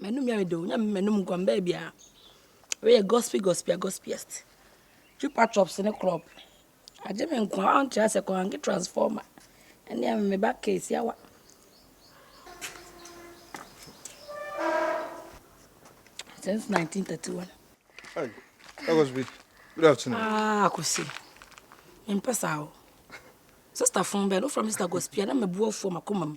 M'anum yɛ me dɛ o, Nyame m'anum nkɔ mbaa biara. Wei yɛ gospy gospy a gospyest. Chupa chups ne krɔp, agye me nkwa a ɔnkyerɛ sɛ kɔange transformer ɛne a me ba case awa. Since 1931. Hey, Akwasi, good afternoon. Ah, Akwasi, mempɛ saa o. Sister fon bɛn, wofrɛ me Sister Gospia na mabu afuo makoma mu.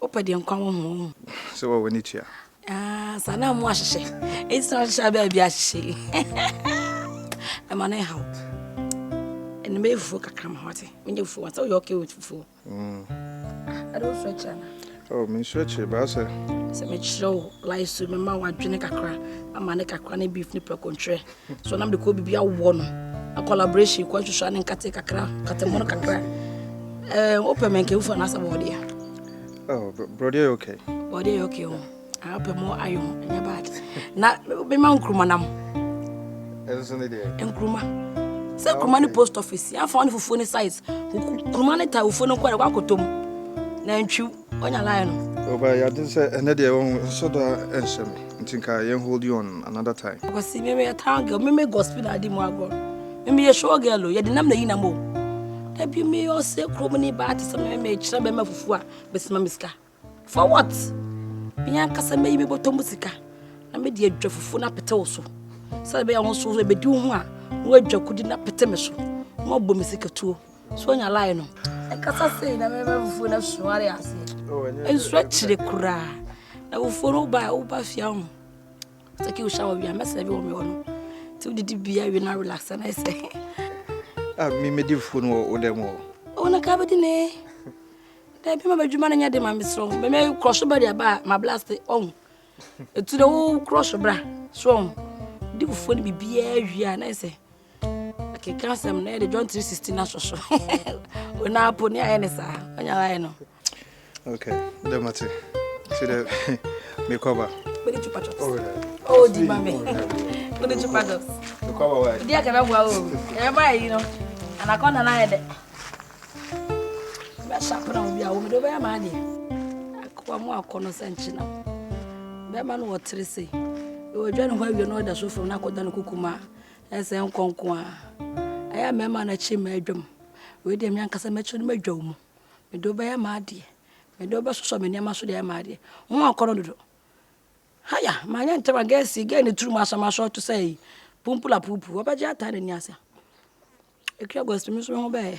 Wopɛ deɛ nkwa wɔ ho. Sɛ wɔ w'ani tua. Ah, saa na mo ahyehyɛ. Eti sɛ ahyehyɛ abɛɛ bi ahyehyɛ. Ɛma ne haw. Ɛna mɛ fufuo kakra ma wate. Menye fufuo wate. Woyɛ okay with fufuo. Mm. Ɛde wo srɛ kyerɛ na. Oh, me nsrɛ kyerɛ baa sɛ. Sɛ mekyerɛ wo life so mɛma wadwene kakra ama ne kakra ne beef ne pɛkontwerɛ. So nam de kɔ bibi awɔ no. Na collaboration kɔ hwehwɛ ne nkate kakra, katemono kakra. Eh, open men kewu for na sabo dia. Oh, bro, dia okay. Oh, dia okay. Oh. I open more ayo, nya bad. Na be ma nkruma nam. Enso ne dia. Nkruma. Sɛ kuruma ne post office, yɛafa ne fufuo ne size. Kuruma ne ta fufuo no nkɔ na wakotom. Na ntwiw. Onya line no. Oba ya den sɛ ɛnɛ deɛ wɔn nso da nhyɛ me nti nka yɛn hold you on another time. Kwasi me meyɛ town girl me me gospel na adi mu agorɔ me meyɛ show girl o yɛde nam na yi nam o da bi me ɔsɛ kurom ne baa te sɛ me me kyerɛ bɛma fufu a bɛsima me sika for what me ankasa mɛyi me bɔtɔ mu sika na me de adwa fufu na pete wo so sɛ bɛyɛ ho so ɛbɛdi wo ho a na wadwa kudi na pete me so na wabɔ me sika tuo So nya lie no. Ɛkasa sei na mɛma abufuo no asuare aseɛ. Nsuo akyire koraa. Na abufuo no woba woba fia ho. Sɛ ki wohyɛ wɔ wia mɛsɛ bi wɔ me hɔ no. Ti wodidi bia wie na relax na ɛsɛ. Ah, me me di fuo no wɔ wo dɛm wɔ. Wo na ka bɛdi ne. Da bi ma bɛdwuma no nyɛ de ma me srɔ. Mɛ me crush ba de aba ma blast ɔho. Ɛtu de wo crush bra. So ɔho. Di fuo no bibiaa wie a na ɛsɛ. Akeka asɛm na yɛde John 3:16 no ahyɛ so. Ona apo ne ayɛ ne saa. Ɔnya ayɛ no. Okay, dɛ mate. Ti dɛ mekɔba. Mede chupa chups. Oh, di ma me. Mede chupa chups. Mekɔba wa. Di akɛbɛ bua o. Ɛbɛ ba yi no. Anaconda na ayɛ dɛ. Bɛ sharp na obi a wo mede bɛyɛ ma ade. Akwa mu akɔ no sɛ nkyena. Bɛma no wɔ tere se. Ɛwɔ dwa ne ho awie no ɔda so fam na akɔda no kukuma. Ɛyɛ sɛ nkɔ nko ara. Ɛyɛ a mɛma no akyi mma adwam. Wei deɛ me ankasa mɛkyi no madwa wo mu. Mede wo bɛyɛ m'adeɛ. Mede wo bɛsosɔ me nneɛma so de ayɛ m'adeɛ. Wo ho akɔnnɔ dodo. Haya! Manyɛ ntɛm a girls yi, girl no tirim asɔ me asɔ te sɛ ayi, pumpul apuupuu. Ɔbɛgye ataa n'ani ase a. Akua August me nso me ho bɛyɛɛ.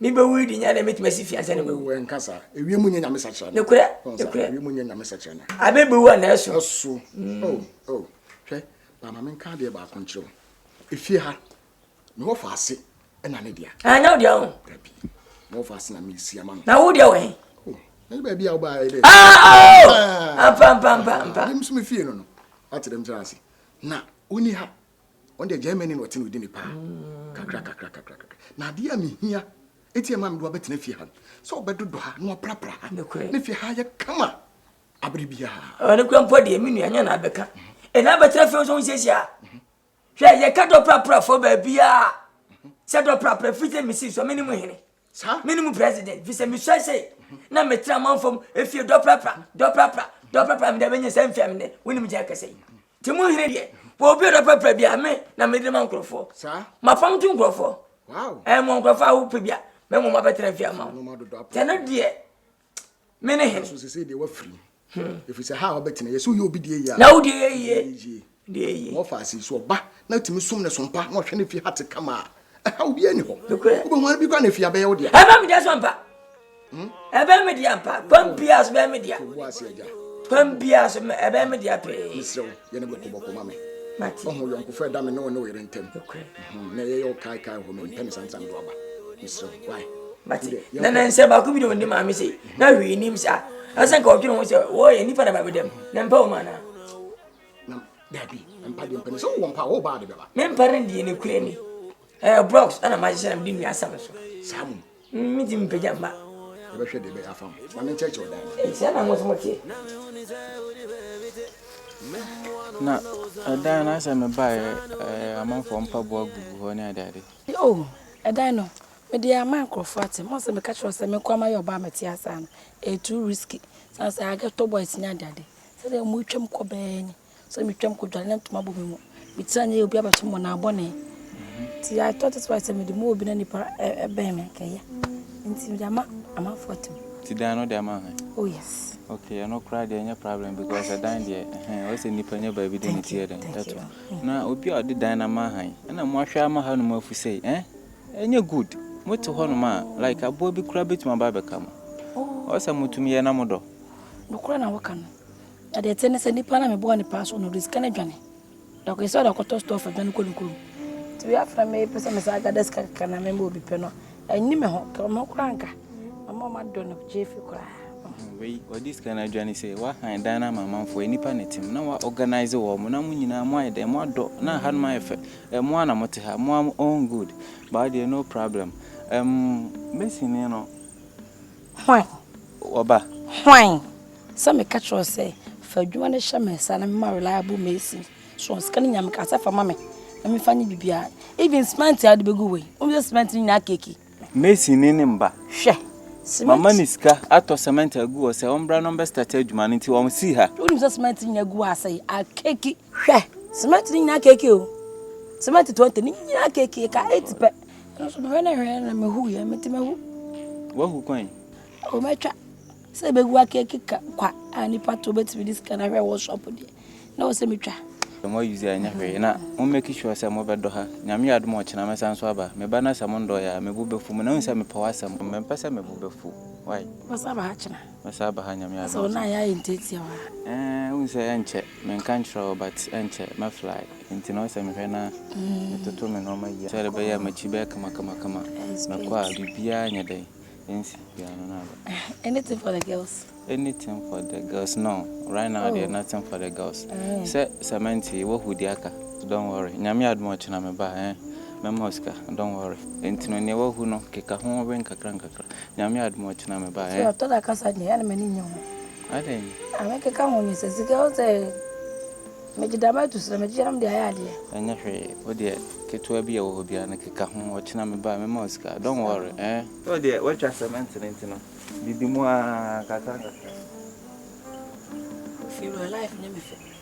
Me bɛ wuri di nya na emetumi asi fi ansa na mawu. Wɔ nka saa. Ewiem nyɛ nyame sakyerɛ na. Nokorɛ. Nokorɛ. Ewiem nyɛ nyame sakyerɛ na. Abe bɛ wu anaa ɛso. Ɛso. Mm. Oh oh. Hwɛ, ba ma me nka adeɛ baako nkyerɛ wo. Efie ha, me wɔ fa ase ɛna ne dea. Ah, nyɛ wo dea ho. Dabi. Me wɔ fa ase na me si ama no. Na wo dea wɔ he? Oh, na baabi a wo ba ayɛ dɛ. Ah oh. Ampa ampa ampa ampa. Dem so me fie no no. Ate dem kyerɛ ase. Na oni ha. ɔn deɛ Germany na ɔte no ɔdi ne paa kakra kakra kakra kakra na adeɛ a mehia eti ɛma mi do abɛtena fie ha no sɛ ɔbɛdodɔ ha na waprapra ha ne fie ha yɛ kama abere bi ha. ɔne kura mpɔ deɛ mi nua nyɛ na abɛka ɛna e abɛtena fie nso nsiesie a hwɛ yɛ ka dɔ prapra fo baabi a sɛ dɔ prapra fi sɛ mesi so mi ne mu hene. Saa. Me ne mu president fi sɛ me sua sɛ na me tena amanfam efie dɔprapra dɔprapra dɔprapra me da bɛnyɛ sɛ mfia me nɛ wonim gya kɛsɛ yi te mu nhene deɛ wɔ obi dɔprapra bi a me na me de ma nkurɔfoɔ Saa. mapam to nkurɔfoɔ Wow. ɛmɔ nkurɔfoɔ a wopɛ bi a mɛmɔ mabɛtena fie ama wo tɛno deɛ me ne hene so sesei deɛ wafiri mu hmm. ɛfiri sɛ ha a wabɛtena yɛ sɛ woyɛ obi deɛ yie na wo deɛ yie deɛ yie na ɔfa ase so ɔba na tumi som ne sompa na ɔhwɛ ne fi ha te kama a ɛha obiara ni hɔ wobɛhu ara bi kora na ɛfi abɛyɛ wo deɛ ɛbɛ me deɛ so mpa hmm? ɛbɛ me deɛ mpa kwan biaa so bɛɛ me deɛ kwan biaa so ɛbɛ me deɛ pee Yɛ no bɔkobɔko ma me. Ɔho yɔnkofa a ɛda me ne wo ne wo yere ntam. Nnɛ yɛyɛ wo kaekae hɔ. Mempɛ ne santam do aba. Mesrɛ wo, why? Mate. Na na nsɛm baako bi na ɔnni maame sei. Na hwee nnim sa. Asɛ nka ɔdwene ho sɛ wɔyɛ nnipa na ba me dam. Na mpa wo ma anaa? Na dabi, mpa deɛ mpa ni. Sɛ wowɔ mpa a, wo baa de bɛba. Mempare no deɛ nokorɛ ni. Ɛyɛ blocks na mahyehyɛ na mede nnua asam so. Saa mmom. Mentimi mpagya mma. Yɛbɛhwɛ deɛ ɛbɛyɛ afa ho. Na menkyerɛkyerɛ ɔdan no. Ntia na mo nso motie. Na ɛdan no asɛ mebaeɛ ɛɛ amanfoɔ mpaboa gugu hɔ ne adeade. O, ɛdan no, mede ama nkurɔfoɔ ate. Mo sɛ meka kyerɛ wo sɛ me nkoa mayɛ ɔbaa a mete ase a no, ɛyɛ too risky. Ɛsiane sɛ I get tall boys ne adeade. Sɛdeɛ wɔtwam kɔ bɛɛ ni. So metwam kɔdware na ntoma bɔ me mu? Metena ne obi abɛto mmonnaa bɔne? Nti I thought it was sɛ mede mu obi na nipa bɛn me nkɛyɛ. Nti mede ama amanfoɔ atem. Ti dan no de ama hɛn? Oh yes. Okay, ɛno koraa deɛ ɛnyɛ problem because ɛdan deɛ ɛhɛn ɔyɛ sɛ nipa nyɛ baabi de ne ti yɛ dɛn ɛto. Na obi a ɔde dan no ama hɛn ɛna mo ahwɛ ama ha nom afu sɛ ɛn ɛnyɛ good. Mo te hɔ nom a like aboa bi koraa betumi aba abɛka mo. Ɔyɛ sɛ mo tumi yɛ na mo dɔ. Nokora na wɔka no. Na deɛ ɛteɛ ne sɛ, nipa no a mebɔɔ no paa so no, ɔde sika no adwane. Na ɔkae sɛ ɔde akɔtɔ store fa dwane kɔ ne kurom. Nti wei afei na mepɛ sɛ mesan gada sika kakra na mema obi pɛ no, ɛnni me ho. Ka me ho koraa anka. Mama ɔma dɔ no gye afi koraa. Wei, ɔde sika no adwane sɛ wahan dan no ama amanfoɔ, nnipa na ɛte mu. Na wa organise wɔn. Na mo nyinaa moayɛ dɛn? Moadɔ. Na hanom ayɛ fɛ. Eh, mo ara na mote ha. Mo ara mo own good. Ba wo deɛ, no problem. Ɛm, Mason no, Hwan? Wɔba. Hwan? Sɛ meka kyerɛ wo sɛ, fa adwuma no hyɛ me nsa na mema reliable mason. So sika no nyinaa meka sɛ fa ma me na memfa nyɛ biribiara. Even cement a wode bɛgu hɔ yi, wonim sɛ cement no nyinaa keke. Mason ni no mma. Hwɛ, cement. Mama no sika atɔ cement agu hɔ sɛ ɔmbra na ɔmbɛstarte adwuma no nti ɔnsii ha. Wonim sɛ cement no nyinaa gu hɔ asɛe, akeke. Hwɛ, cement no nyinaa keke o. Cement 20 no nyinaa keke, ɛka 8 pɛ. Nso mehwɛ na hwɛ na mehu yɛ mete mahu. Wahu kwan. O mɛtwa sɛ bɛgu akeke ka kwa a nipa to bɛtumi de sika na hwɛ wɔ shop deɛ na wɔ sɛ metwa. Mo ayuzi a ɛnyɛ hwee na mo make sure sɛ mobɛdɔ ha. Nyame yɛ adom a ɔkyena mɛsan nso aba. Me ba na sɛ mo ndɔɔyɛ a me bo bɛfu mo na wohu sɛ mepɛ w'asɛm. Mempɛ sɛ me bo bɛfu why. Mɛsan aba ha kyena. Mɛsan aba ha Nyame adom a. Asɛ wo nan yɛ ayɛ ntiatia wa. Eeh wohu sɛ ɛnkyɛ, menka nkyerɛ wo but ɛnkyɛ mɛ fly nti na ɔsɛ mehwɛ na metoto me nnoɔma yie sɛdeɛ ɛbɛyɛ a makyi bɛyɛ kama kama kama mɛkɔ a biribiara nyɛ dɛn ɛnsi biara no na aba. Anything for the girls. Anything for the girls no right now deɛ nothing for the girls sɛ cement yi wahu deɛ aka don't worry Nyame adom a ɔkyena meba a eh mɛma wo sika don't worry nti no deɛ wahu no keka ho wɛn kakra nkakra Nyame adom a ɔkyena me ba eh. Ɔtɔda kasa deɛ ɛna m'ani nyɛ ho. Adɛn. A me keka ho nyɛ sɛ sika wo sɛ megye dama atu srɛ megye yɛnom de ayɛ adeɛ. Ɛnyɛ hwee wo deɛ ketewa bi a ɛwɔ hɔ biara no keka ho ɔkyena me ba mɛma wo sika don't worry eh. Wo deɛ woatwa cement no nti no didi mu aa kakra kakra. Ofie wura life nyɛ me fɛ.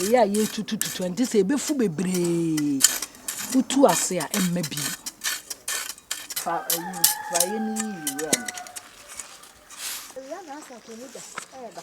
Eyi a yɛretutututu ɛnte sɛ ebefu bebree. Wotu ase a ɛmma bi. Fa ayi praeɛ no yi wura no. Awia na asafo mu da ɛreba.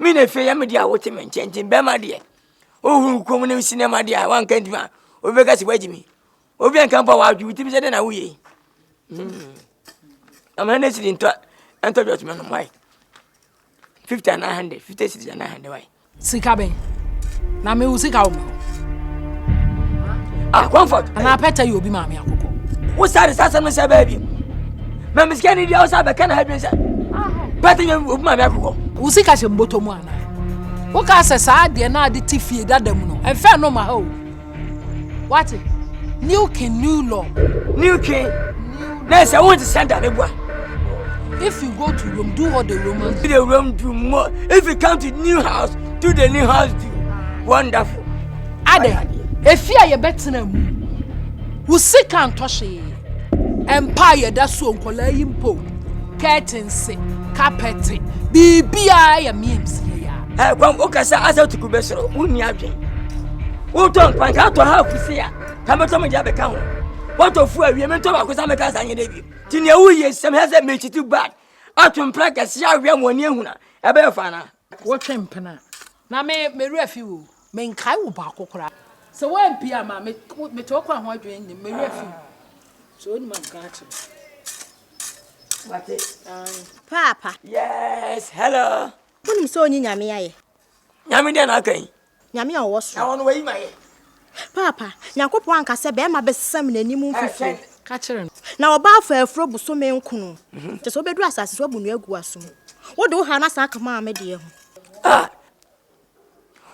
Me na afei yɛ me deɛ a wote me nkyɛn nti bɛrima deɛ wohuru wo kɔn ne sinɛma deɛ a woanka ntumi a obi bɛka sɛ woagye me obi anka mpo a woadwe wo tirim sɛ dɛn na woyɛ yi hmm. amana ne siri ntɔ ɛntɔ dwɔtoma nom wae fifty and nine hundred fifty six and nine hundred wae sika bɛn na mewo sika wo ma ah comfort anaa pɛtɛ yɛ obi maame akokɔ wo sare sasɛm no sɛ baabi na me sika ne di awusa bɛka na adwene sɛ bɛte nyɛ obi ma me akokɔ wo sika hyɛ mbɔtɔ mu anaa woka sɛ saa adeɛ no ade te fie dada mu no ɛmfɛ no ma ha o wate new king new law new king na sɛ wonte sɛ da ne boa If you go to Rome, do what the Romans do. The Rome do more. If you come to new house, do the new house do. Wonderful. Ade, efi a yɛbɛtena mu. Wo sika ntɔ hwee. Mpa a yɛda so o, nkwadaa yi mpo o, kɛɛtense, kapɛte, biribiara yɛ memes yɛ ya. Ɛ kwan wokasa asa tuku bɛ soro, wonni adwen. Wotɔ nkwan ka tɔ ha afusi a, ka mɛtɔ me gya bɛka ho. Wɔtɔ fu awie mentɔ baako sa mɛka sa nyɛ dɛ wiem. Ti nea woyɛ sɛm hɛ sɛ mekyiti bad, ato mpra kɛse awea mu ani ehuna, ɛbɛyɛ fa anaa? Wo twe mpena na me me werɛ fi wo me nkae wo baako koraa. Sɛ wo ampie a ma me me te wo kwan ho adwene nnim me werɛ fi wo sɛ onim a nka akyerɛ me. Wate ae. Paapa. Yes hello. Wonim sɛ ɔnyi Nyame ayɛ. Nyame deɛ na aka yi. Nyame a ɔwɔ soro. Na ɔno wayi mayɛ. Paapa, Nyankopɔn anka sɛ bɛɛma bɛsesa me nanim mfifire. Ka kyerɛ no. Na ɔbaa faa afuro bosome nkono. Kyɛ sɛ wobɛduru asase so abu nnua agu asom. Wode wo haa no asan aka maame deɛ ho. Ah!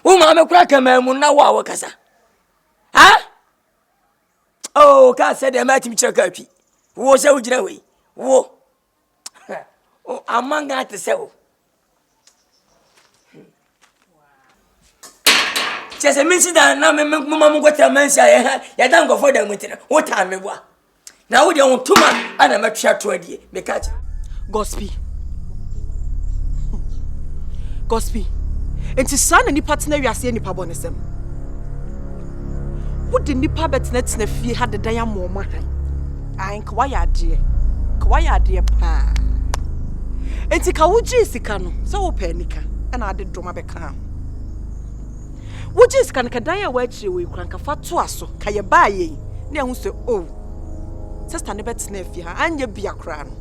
Wo maame kora ka maa mu na wo a wokasa. Ha? Oh, ka sɛ deɛ matumi kyerɛ ka atwi. Wo sɛ wogyina hɔ yi. Wo. Huh oh aman Ghana te sɛ o. Kyɛ sɛ mensi da na mema mo nkɔtra mansi a yɛha yɛda nkɔfoɔ da mu nti no wotaa me boa na wodeɛ wo toma ana mɛtwea to adie meka kyɛ gospel gospel nti saa na nipa tena wiase yɛ nipa bɔ ne sɛm wode nipa bɛtenatena fie ha dedan amoɔma han Ae nka wayɛ adeɛ nka wayɛ adeɛ paa nti ka wogyee sika no sɛ wopɛ anika ɛna ade dɔma bɛkaa ho wogyee sika no ka dan a wɔakyire wɔ ekura nka fa toa so ka yɛ baa yɛn ne ɛho sɛ o oh, sista no bɛtena afie ha anyɛ bia koraa no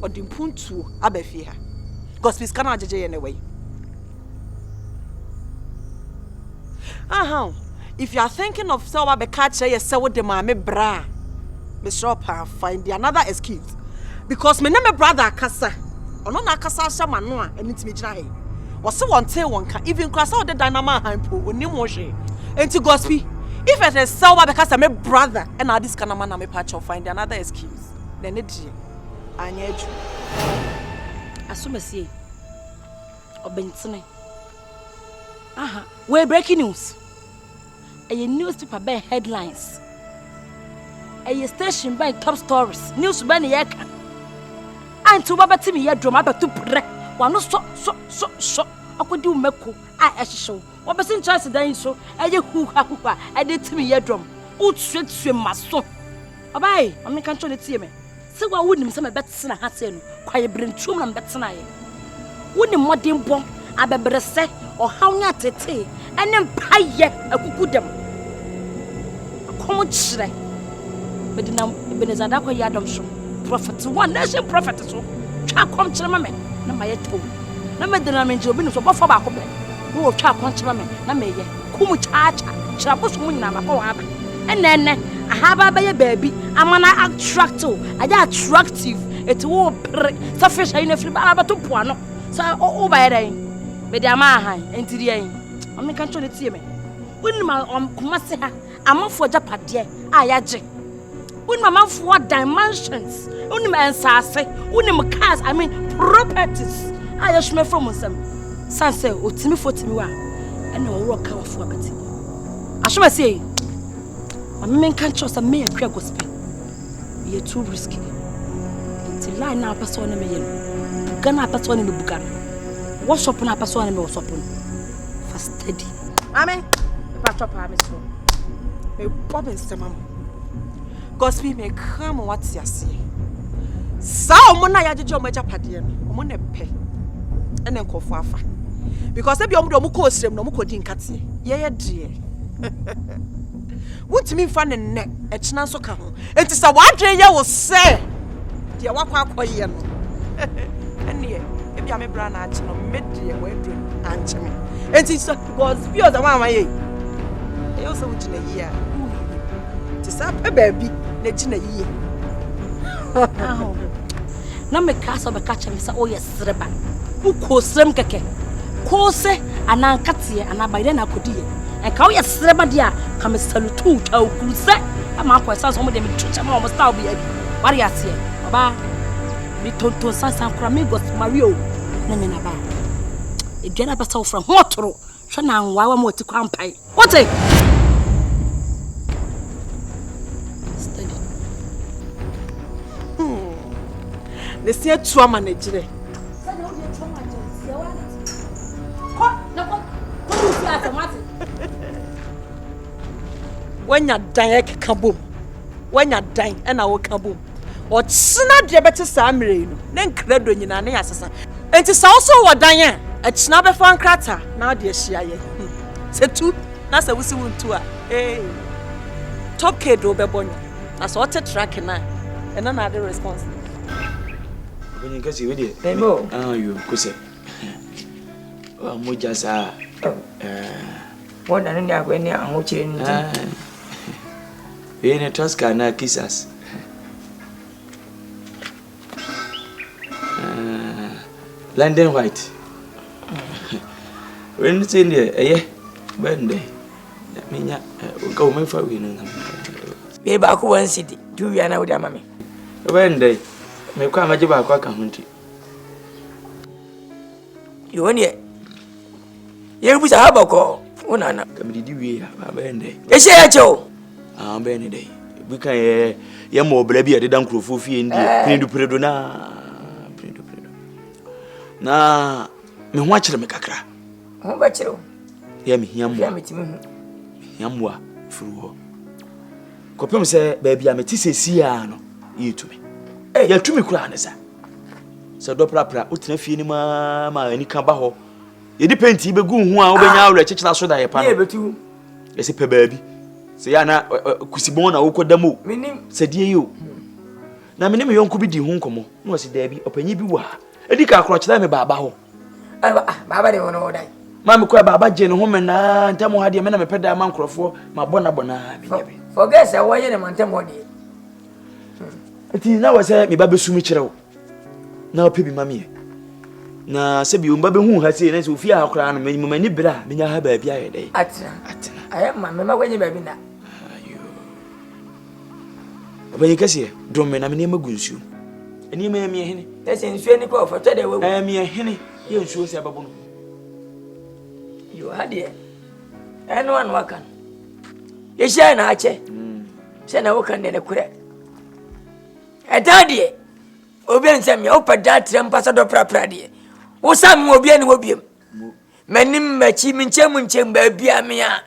ɔde mpuntuo aba fie ha gospel sika no agyegye yɛ ne wɛyi Ahaw, if you are thinking of sɛ ɔba bɛka akyerɛ yɛ sɛ wode maame bra a, mesrɛ wo paa find the another excuse. Because me ne me brother akasa, ɔno na akasa ahyɛ m'ano a ɛno ntumi gyina ha yi. Wɔse wɔntee wɔn ka, even kora sɛ ɔde dan na ma ahan po, onim ho hwee. Enti Gospi, if it is sɛ ɔba bɛka sɛ me brother ɛna ade sika na ma na me pakyɛw find the another excuse. Na ɛne deɛ, anyɛ adwuma. Asomasie, Ɔbentene. Aha, wei breaking news. Ɛyɛ newspaper bɛn headlines. Ɛyɛ station bɛn top stories. News bɛn ne yɛka. A nti wobɛbɛte me yɛ drum abɛto prɛ. Wano sɔ sɔ sɔ sɔ. Akɔdi wo mako a ɛhyehyɛ wo. Wɔbɛsi nkyɛnse dan yi so. Ɛyɛ huha huha. Ɛde te me yɛ drum. Wotuatua maso. Ɔbaa yi, ma menka nkyɛw ne tie me. Sɛ woa wonim sɛ mebɛtena ha sɛ no kwaebirentuo mu na mebɛtenaeɛ. Wonim mmɔdenbɔ, abɛbrɛsɛ, ɔhaw ne atetee, ɛne mpaeɛ akukudam. Ɛkɔm kyerɛ, mede nam Ebenezer Darko Yiadom so, prophet one, nation prophet so, twa akɔm kyerɛ ma me na mayɛ tɛw. Na mede nam nkyerɛ obi nim so, ɔbɔfoɔ baako pɛ na wɔtwa akɔm kyerɛ ma me na meyɛ. Ku mu kyaakyaa, hyira bosom nyinaa ma kɔ wɔn aba. Ɛna ɛnɛ, ahaba abɛyɛ baabi ama no attract wo, ayɛ attractive, eti wo pere sɛ fish ayi na firi baara bɛto po ano. Sɛ wo ba yɛ dɛn? Mede ama ahan, enti deɛ yi, ɔno nka nkyɛn ne tie me. Wonim a ɔm koma se ha. Amanfoɔ agyapadeɛ a yɛagye. Wonim amanfoɔ adan mansions. Wonim nsaase. Wonim cars, I mean properties a yɛsoma fam nsɛm. San sɛ otimifoɔ timi wa ɛna wɔwɔ ka wɔfoɔ abɛte. Asoma sɛ yi. Ma me menka nkyerɛ sɛ me akura gospel. Meyɛ too risky. Nti line na apɛ sɛ ɔne me yɛ no. Buga na apɛ sɛ ɔne me buga no. Workshop na apɛ sɛ ɔne me workshop no. fa steady. Mami, ɛpa tɔ paa mi so. Me bɔ mi nsɛm ama. Cause mi mi kra mo wa te aseɛ. Saa ɔmo na yɛagyegye ɔmo agyapadeɛ no, ɔmo na ɛpɛ ɛna nkɔfo afa. Because ebi ɔmo de ɔmo kɔ osirem na ɔmo kɔ di nkateɛ. Yɛyɛ deɛ. Wontumi mfa no nnɛ, ɛkyena nso ka ho. Enti sɛ w'adwene yɛ wo sɛ deɛ woakɔ akɔyɛ no, ɛnneɛ ebia me bra na akye no, me deɛ wɔaduru no ankye me. Enti sɛ because bi ɔsɛ wɔn a wɔayɛ yi, ɛyɛ wo sɛ wogyina yie a, woyɛ yie. Te saa pɛ baabi na gyina yie. Na meka sɛ ɔbɛka kyerɛ me sɛ, oh yes. Sereba. Wokɔɔ serem kɛkɛ. Koose anaa nkateɛ anaa bayerɛ na akɔdi yɛ. Nka woyɛ sereba deɛ a, ka me salutu twa okuru sɛ ama akɔ ɛsan sɛ ɔmo deɛ metu kyɛ ma ɔmo style bi abi. Wari aseɛ. Ɔbaa. Me tonton sansan kora Migos Mario ne me na baa. Aduane a bɛsɛ wofra ho ɔtoro. Hwɛ na nwaawa mu ɔte kwan pae. Wote? Steady. Hmm. Ne si atu ama ne gyerɛ. Sɛdeɛ wode atu ama gyerɛ nsia wa ne ti. Kɔ na kɔ kɔ ne fi asɛm ate. Woanya dan ɛkeka bom. Woanya dan ɛna woka bom. Ɔkyena deɛ bɛte saa mmerɛ yi no, ne nkradɔ nyinaa ne asesa. Enti sɛ wo so wɔ dan a, akyina bɛfa nkrataa na ade ahyia yɛ. Hmm. Sɛ tu na sɛ wosi wo ntu a, ee, tokade wobɛbɔ nyo. Na sɛ ɔte trake no a, ɛna na ade response no. Ɔbɛnyin kɛse wei deɛ. Ɛmɛ o. Ah, yo, kosɛ. Wa mogya saa. Ɛɛ. Wɔda ne ne ahokyere no nti. Eyi ne Tosca anaa Kisas? London white. Wei no sɛ deɛ ɛyɛ bɛn dɛ menya nka wo mɛfa wei no nam. Wei baako wɔn si di tu wia na wode ama me. Ɛbɛn dɛ mekɔ a mɛgye baako aka ho nti. Yɛwɔ neɛ yɛrebu sa haba kɔ wo nana. Kamididi wie a ba bɛyɛ ndɛ. Ɛhyɛ yɛ kyɛ o. Ah bɛyɛ ne dɛ. Bi kan yɛ yɛ mɔ ɔbra bi a ɛdeda nkurɔfoɔ fie ndi eh. peredu peredu na peredu peredu na me ho akyerɛ me kakra. Ho bɛkyerɛ o. Yɛ me hia mmoa. Me hia mmoa firi hɔ. Kɔpem sɛ baabi a mete sɛ si a no yɛ tumi. Yɛ tumi koraa ne sa. Sɛ dɔ prapra, wotena fie no mu ara ma anika ba hɔ. Yɛde penti bɛgu wo ho a wobɛnya ah. awerɛ kyekyere aso da yɛ pa no. Yɛsɛ pɛ baabi. Sɛ yɛ ana kusibɔn na wokɔ da mu o. Sɛ deɛ yi o. Na me ne me yɔnko bi di ho nkɔmmɔ na wɔsi daabi ɔpanyin bi wɔ ha. Edi ka akorɔ kyerɛ me baaba hɔ. Ah, baaba de wɔn ɔdan. Maa me kɔɛ baaba gye ne ho menaa ntɛm hɔ adeɛ me na mepɛ dan ma nkurɔfoɔ mabɔ na bɔ naa bi. Forget sɛ wɔyɛ ne ma ntɛm hɔ deɛ. nti na wɔ sɛ meba bɛsu me kyerɛ wo na wopɛ bi ma meɛ na sɛ bio mba bɛhu ha sei na sɛ ofie ha koraa no mamani berɛ a menya ha baabi ayɛ dɛ atena atena ayɛ ma mema woanyɛ baabi na ɔpanyin kɛseɛ dom me na me nneɛma gu nsuo nneɛma yɛ meɛ hene ɛsɛ nsuo ni kɔ ɔfɔtɔ dɛ wawu ɛyɛ meɛ hene yɛ nsuo sɛ ɛbɛbo no yo ha deɛ ɛno ano aka no yɛhyia na akyɛ mm. sɛ na woka ne nokorɛ ɛdaa deɛ obi nsɛm yɛ wopɛ daa tirɛ mpa sɛ dɔ prapra deɛ wosan mu obi ani hɔ biam m'anim m'akyi menkyɛn mu nkyɛn baabia me a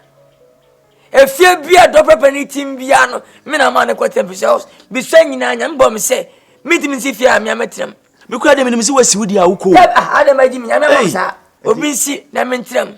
efie bia dɔ prapra ne tim bia no me na maa no kɔ tɛmpi sɛ bisua nyinaa nyame bɔ me sɛ mentumi nsi fie a mea mɛtram mekura de menim sɛ wasi wo deɛ a wokɔ adama gyi me nyame ama saa obi nsi na mentram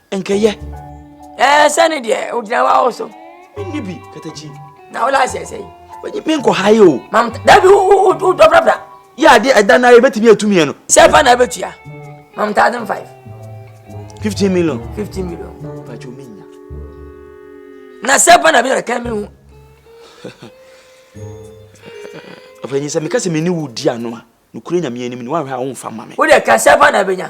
Nkɛyɛ. Ɛɛ sɛ ne deɛ ogyina wa wo so. Menni bi katakyi. Na wo laase ɛsɛ yi. Wɔnyi me nkɔ ha yi o. Mam dabi wo dɔbrabra. Yɛ adeɛ ɛda na yɛ bɛtumi atum yɛ no. Sɛ fa na ɛbɛtua. Mam thousand five. Fifteen million. Fifteen million. Bàtí omi nya. Na sɛ fa na bi na ɛka mi hu. Ɔfɛnyi sɛ meka sɛ mene wo di ano a nokura nyame anim ne woanhwɛ a womfa ma me. Wode ka sɛ fa na bɛnya.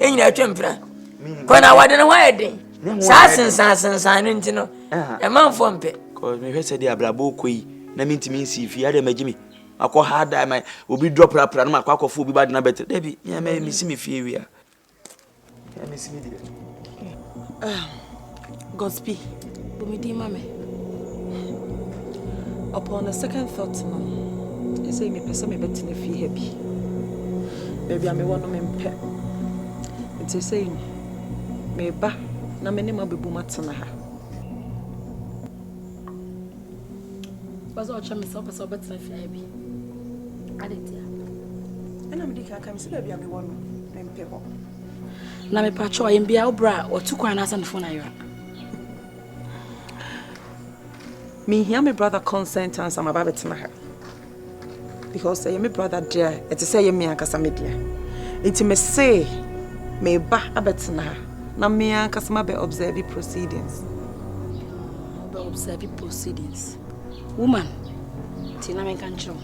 yɛn nyinaa atwa mpira kɔ na wɔde ne ho ayɛ den saa sensansensan no nti no ɛmanfoɔ mpɛ mehwɛ sɛ deɛ abrabɔ ɔkɔ yi na mentumi nsi fie adɛ magye me akɔ ha da ma obi dɔ prapra no makɔ akɔfo obi badena bɛtɛ dabi mesi me fie wie a mesi me deɛ ah. Gospi, bu me din ma me. Upon a second thought no, ɛsɛ mepɛ sɛ mebɛtena fie ha bi. Baabi a mewɔ no mempɛ. Nti ɛsɛ no, meba na me ne ma bɛbom atena ha. Wopɛ sɛ ɔkyɛ me sɛ wopɛ sɛ wobɛtena fie ha bi. Ade ntia. Ɛna mede kan ka me sɛ baabi a mewɔ no mempɛ hɔ. Na me pacho ayem bia obra otu kwan na asem phone ayera. Me hia me brother consent and some about betena ha. Because ayem me brother dear, it is ayem me ankasa me dear. Inti me say me ba abetena ha na me ankasa ma be observe proceedings. Be observe proceedings. Woman, tina me kan chiro.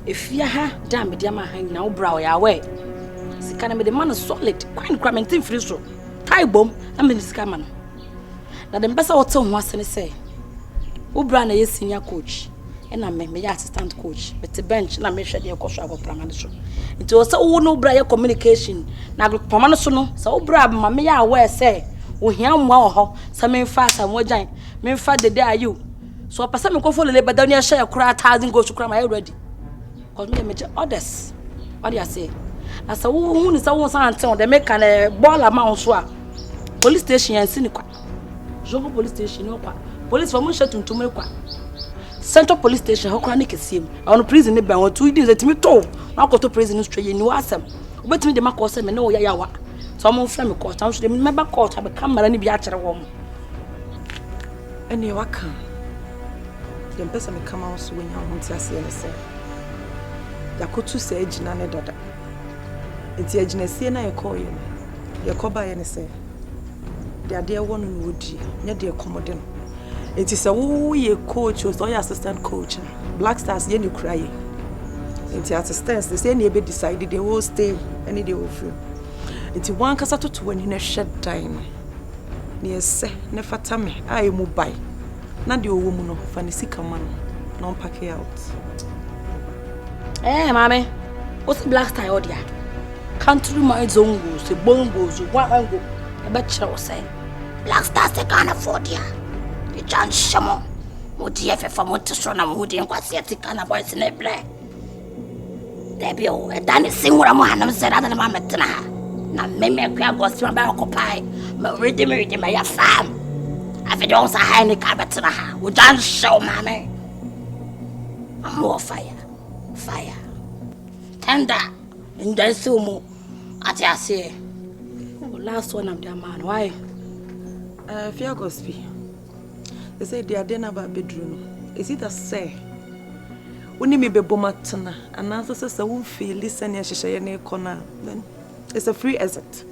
Efie ha dan mede ama ha nyinaa wo bra ɔyɛ awɛ. Sika no mede ma no solid. Kwan kora mente mfiri so. Tae bom na mede sika ma no. Na de mpɛ sɛ wote ho ase ne sɛ wo bra na ɛyɛ senior coach ɛna me meyɛ assistant coach mete bench na mehwɛ deɛ ɛkɔ so agorɔprama no so. Nti wɔ sɛ wo ne wo bra yɛ communication na agorɔprama no so no sɛ wo bra ma meyɛ awɛ sɛ ohia mmoa wɔ hɔ sɛ memfa asamoah gyan memfa dede ayew so ɔpɛ sɛ mekɔfɔ lele bɛda no ahyɛ koraa thousand goals koraa mayɛ ready cause meyɛ megyɛ orders wade aseɛ na sɛ wohu ne sɛ wo nsa nte ho dɛ meka no bɔɔl ama wo so a police station yɛnsi ne kwa zongo police station ne kwa police fɔ mo nhyɛ tuntum ne kwa central police station hɔ koraa ne kɛseɛ mu ɛwɔ no prison ne bɛn wɔ tu di sɛ tumi to na akɔto prison no straight yɛni wɔ asɛm wobɛtumi de ma kɔɔ sɛ me ne wo yɛ yawa sɛ ɔmo mfrɛ me kɔɔt na nso de mɛba kɔɔt abɛka mmara no bi akyerɛ wɔn Ɛneɛ waka a, deɛ mpɛ sɛ meka ma wo so woanya wo ho nteaseɛ ne sɛ, yɛakɔtu saa agyina no dada. Nti agyinasie no a yɛkɔɔeɛ no, deɛ ɛkɔbaeɛ ne sɛ, deɛ adeɛ wɔ no na ɔdie, nyɛ deɛ ɛkɔm de no. Nti sɛ woyɛ coach o, sɛ woyɛ assistant coach a, Black Stars yɛ ne kura yɛ. Nti at stairs no, sɛ ɛne ɛbɛ decide deɛ wɔ stay ne deɛ wɔ free. Nti wankasa toto w'ani na hwɛ dan no. Nea ɛsɛ na ɛfata me a emu bae, na deɛ ɔwɔ mu no, fa ne sika ma no na ɔmpake out. Eh, maame, wosi black style ɔde a, country man zone goes, the bone goes, one and go. Ɛbɛkyerɛ wo sɛ black star sɛ Ghanafoɔ de a, ɛgya nhyɛ mo. Mo deɛ fɛfa mo te so na mo ho di nkwaseɛ te Ghana boys ne brɛ. Dabi o, ɛda ne se nwura mu hanom sɛ dada ne ma metena ha. Na mmemme akua agɔsi ma bɛyɛ kɔpae, ma redi me redi ma yɛ fam. Afei de wɔn sa ha ne ka bɛtena ha. Wogya nhyɛw maame. Ɔmo wɔ fire, fire. Tenda, nda nsi wɔn mu. Ate aseɛ. Oh, last one I'm the man. Why? Uh, eh, fear agɔsi. Sɛsɛɛ deɛ adeɛ no aba abɛduru no, is it that sɛ wo ne me bɛbom atena anaasɛ sɛ sɛ womfeeli sɛnea nhyehyɛeɛ no rekɔ no a then it's a free exit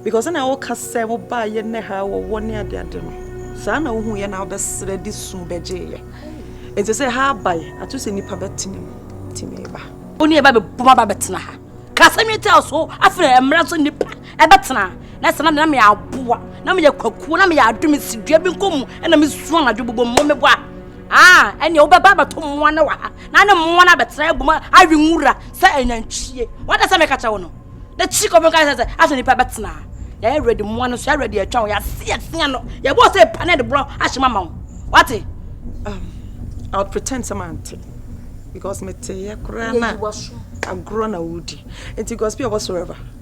because na woka sɛ wobaa yɛ nnɛ ha wɔwɔ ne adeade no saa na wohu yɛ na wobɛserɛ de su bɛgyeeyɛ nti sɛ ha abae ato sɛ nnipa bɛtene mu tumi ba wo ne yɛba bɛbom aba bɛtena ha ka asɛm yi taa so afei mmerɛ so nnipa ɛbɛtena na sɛ na na meyɛ aboa na meyɛ kwakuo na meyɛ ado mesi dua bi nkɔ mu ɛna mesu anadwo bobɔ mmuo mebɔ a aa ɛneɛ wobɛba abɛto mmoa no wɔ ha na ne mmoa no abɛtena agu mu awe nwura sɛ anantwie wada sɛ meka kyɛ wo no na kyi kɔfo nka sɛ sɛ afei nipa bɛtena yɛyɛ ready mmoa no so yɛ ready atwa wo yɛase asia no yɛbɔ sɛ pa ne de borɔ ahyɛ mama wo wate um, I'll pretend sɛ mante because meteyɛ koraa na agorɔ na wodi nti gospel whatsoever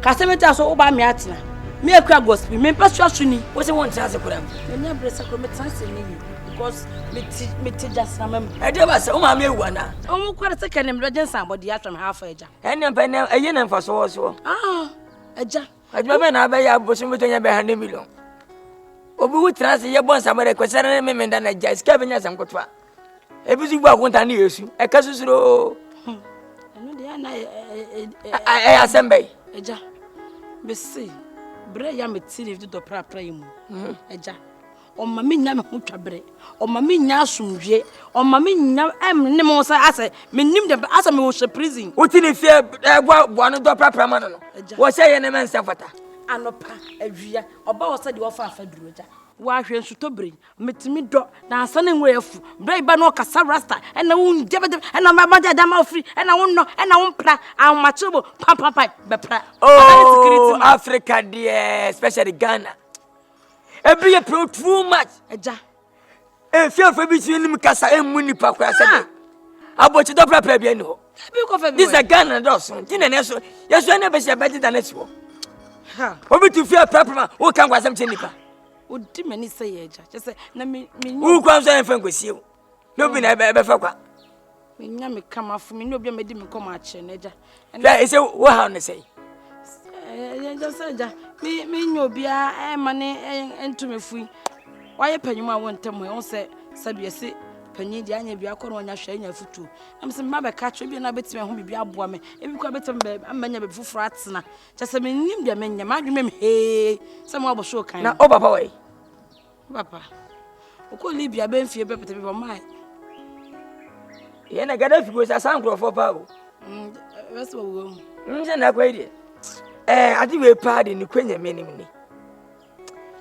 Kasa mɛti aso woba me atena. Me akura gospel, me mpɛ so aso ni. Wo se wo ntra ase kura mu. Me nya bere sakro me tra ase ni because me ti me ti jasna mem. Ɛde ba sɛ wo maame ewu ana? Omu kware sɛ kɛne mebɛgye nsan bɔ deɛ atwam ha afa agya. Ɛne mpɛ ne ɛyɛ na mfa so wɔ soɔ. Ah, agya. Adwuma bɛn na abɛyɛ abosom bi tɔnya bɛ ha ne million. Obi wu tra ase yɛ bɔ nsa bɛrɛ kwasɛrɛ ne memenda na agya sika bɛnya asɛm kotoa. ebi nso bu akonta ne yesu ɛka susuroo ɛyɛ asɛm bɛyi agya mese berɛ ya me tiri dodɔ prapra yi mu mhm. agya ɔma me nya me ho twa berɛ ɔma me nya asomdwie ɔma me nya ɛmene mo sɛ asɛ menim dɛ asɛ mewɔ hyɛ prison woti ne fie ɛboaboa no dɔ prapra ma no no wɔhyɛ yɛ ne mɛnsɛ fata anɔpa awia ɔba wɔ sɛ deɛ ɔfa afa duro agya wahwɛ nsutɔ bere Metumi dɔ na ansa na nwura afu bere a ba no ɔkasa rasta ɛna wo ngyɛbɛdɛ ɛna mɛ mɔgya da ma ofiri ɛna wo nnɔ ɛna wo mpra ahomakye bo pampampa bɛpra oh Africa deɛ especially Ghana ebi yɛ pro too much ɛgya efiafo bi si anim kasa emu nipa kora sɛ de abɔkye dɔ prapra bi ɛni hɔ this is Ghana dɔɔso ti na ne so yɛsɔ ɛna bɛsi ɛbɛgye da ne si hɔ obi tu fia prapra ma wo kan kwasɛm kyɛ nipa. Odi m'ani sɛ yɛ agya. Kyɛ sɛ na me me nya. Wo kwan nso ɛmfa nkɔsie wo. Na obi na ɛbɛfa kwa. Me nya me ka m'afo me ne obi a mɛdi me kɔm akyerɛ no agya. Hwɛ ɛsɛ wo ha no sɛn. Agya sɛ agya me me nya obiara ɛma ne ɛnto me fui. Wayɛ panyin mu a wɔn ntɛm ɛ wɔn sɛ sɛbi ɛsi panyin deɛ anya bi akɔ na wɔnya hwɛ anya afutuo. Ɛm sɛ mma bɛka kyerɛ bi na bɛtumi ɛho biribi aboa me. Ebi kɔ bɛtumi bɛ ama nya baabi foforɔ atena. Kyɛ sɛ mennim deɛ menyɛ, m'adwemam hee sɛ mowɔ abɔso kan. Na wo papa wɔ yi? Wo papa. Wokɔ Libya bɛ mfie bɛpɛtɛ bi bɔ mae. Yɛn na Gaddafi kuro sɛ asaa nkurɔfoɔ paa o. Mm, Bɛsɛ wɔwɔ mu. Mm, sɛ na akɔ yi deɛ. Ɛɛ, eh, ade wei paa de ne kɔ nyame anim ni.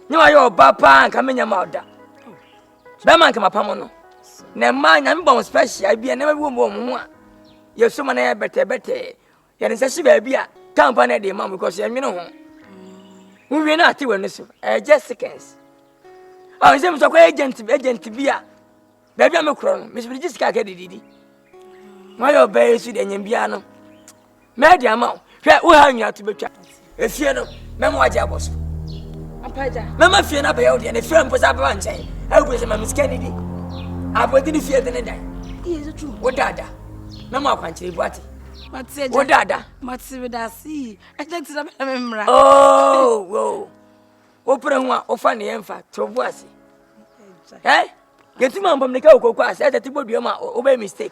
Nyɛ wayɛ ɔba paa nka menya ma ɔda. Bɛma nka mapam no. Na mmaa nyame bɔ wɔn special bi a na bɛbi wɔn ho a yɛsoma na yɛbɛtɛbɛtɛ yɛde nsa si baabi a tampa no de ma mu because yɛnwene ho wowie no ate w'ani so ɛyɛ just seconds a ah, nsɛ mesɛ kɔ agent agent bi a baabi a mekorɔ no mesɛ mede gye sika ka dididi moayɛ ɔbaa yi so de anyam biara no mɛde ama wo hwɛ woha nwina to bɛtwa Efie no, mɛma wagye abɔ so. Mɛma fie no abɛyɛ wo deɛ, na fie mpo sɛ abɛba nkyɛn. Ɛwɔ sɛ ma me sika nidi. Abɔde ne fie de ne dan. Wo dada, mɛma akwankyerɛ bu ate. Wo dada. Mate me da ase yi, ɛgya ti na mɛma me mmara. Oh, wow. Wopere ho a, wofa ne yɛn fa, to bu ase. Ɛ, yɛtumi ambɔ mmirika wɔ koko ase, ɛsɛ te bɔ dua mu a, wobɛyɛ mistake.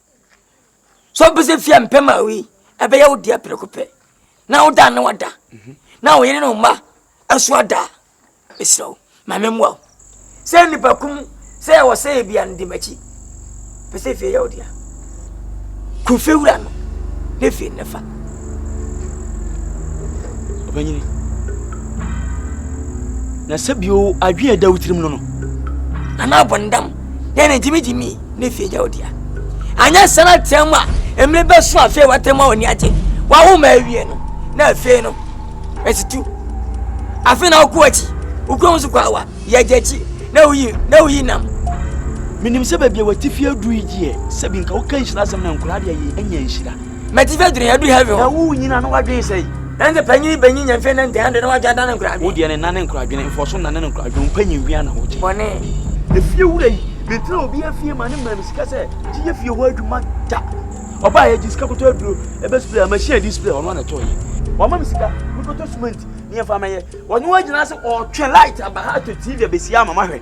So wopɛ sɛ fie a mpɛ ma wei ɛbɛyɛ wo deɛ preko pɛ na woda na wada mhm. na wo yere ne wo mma ɛso ada a mesrɛ wo ma memmoa wo sɛ nnipa kum sɛ ɛwɔ sɛ yɛ bia no de m'akyi pɛ sɛ fie yɛ wo dea ku fie wura no ne fie no fa ɔbɛnyini na sɛ bio adwene ɛda wo tirim no no nana abɔndam yɛ ne gyimigyimi ne fie gya odia anyɛ sɛ na tɛn mu a mmiri bɛso afei wɔtɛn mu a wɔni agye wawo ma awie no na afei no ɛtutu afei na wokɔ akyi wokɔ ho so kɔ awa yɛgya akyi na woyi na woyi nam menim sɛ baabi a wɔte fie aduru yi gyeɛ sɛ bi nka woka nhyira asɛm na nkora deɛ yi anya nhyira Mɛti fɛ dwene yɛdu heaven. Na wo nyina no wadwene sɛ yi. Na nse panyin bɛnyi nya mfe ne ntɛn de na wadwa nane nkora adwene. Wo deɛ ne nane nkora adwene mfɔso nane no nkora adwene mpanyin wia na wogye. Bɔne. Efie wura yi mentena obi afie ma ne maa me sika sɛ gye yɛ fie hɔ adwuma da. Ɔbaa yɛgye sika kɔtɔ aduro ɛbɛ spray a machine ɛdi spray ɔno ana tɔɔ yɛ. Wama me sika mekɔtɔ cement ne yɛmfa mɛyɛ. Ɔno agyina ase ɔɔtwɛn light aba ha atɔ TV abɛsi ama mahwɛ.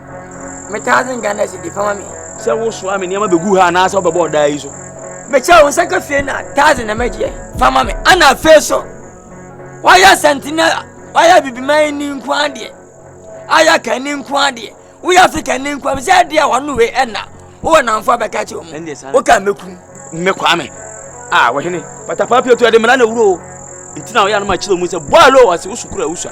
metaa dze ngya na edze biribi ma me. Sɛ wosoa me nneɛma begu ha anaasɛ wobɛbɔ ɔdaa yi so. Mekyɛ wo nsa ka fie na taa dze nam agyeɛ fa ma me. Ana afei so woayɛ asante na woayɛ abibiman yi ne nko adeɛ ayɛ ka ne nko adeɛ woyɛ afrika ne nko adeɛ sɛ ɛdeɛ a wɔn wei ɛna wowɔ namfo abɛka kyerɛ wɔn woka mɛku me kwame a wɔhene patapaa pii otu ɛde mmara na ewuro o nti na ɔyɛ anam akyerɛ wɔn sɛ bɔɔlo ɔsi wosukura wosua.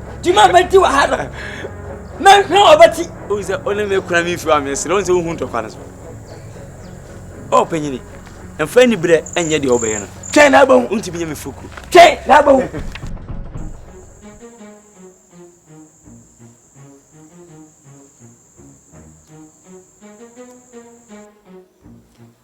Dwuma a mɛdi wɔ ha no, mɛhwɛ ɔbɛte. Wohu sɛ ɔne me kura me mfiri a mesrɛ wo sɛ wohu ntɔkwa no so. Ɔ panyini, mfa ni berɛ ɛnyɛ deɛ wobɛyɛ no. Twɛn na abɛhu. Wontumi nyɛ me foku. Twɛn na abɛhu.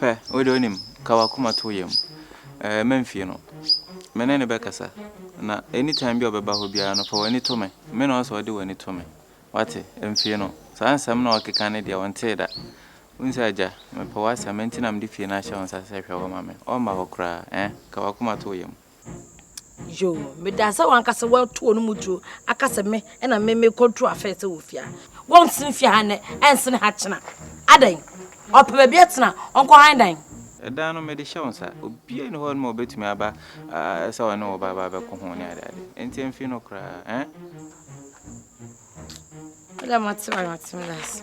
Hwɛ, wo de onim, ka w'akoma to wo yam. Ɛɛ, mɛmfie no. Me ne no bɛkasa. Na anytime bi a ɔbɛba hɔ biara no, fa w'ani to me. Me na ɔsɛ sɛ ɔde w'ani to me. Woate? Mfie no. Saa nsɛm no a ɔrekeka no deɛ, ɔntee da. Wohu sɛ, Agya, mepɛ w'asɛm, enti na mede fie no ahyɛ wo nsa sɛ hwɛ hɔ ma me. Ɔremma hɔ koraa. Ɛɛ, ka w'akoma to wo yam. Yoo meda sɛ wankasa watu wɔn mu duro aka sɛ me ɛna me me control afɛn sɛ wɔ fia wɔn nsene fia ha nnɛ ɛnsene ha kyena adan ɔpɛ baabi atena ɔnkɔ han dan. Ɛdan no mede hyɛ wo nsa obiara ni hɔ no ma ɔbɛtumi aba sɛ ɔne wɔ baaba bɛko ho ne ade ade nti mfi no koraa ɛn. Ɛdɛ ma te ma te me last.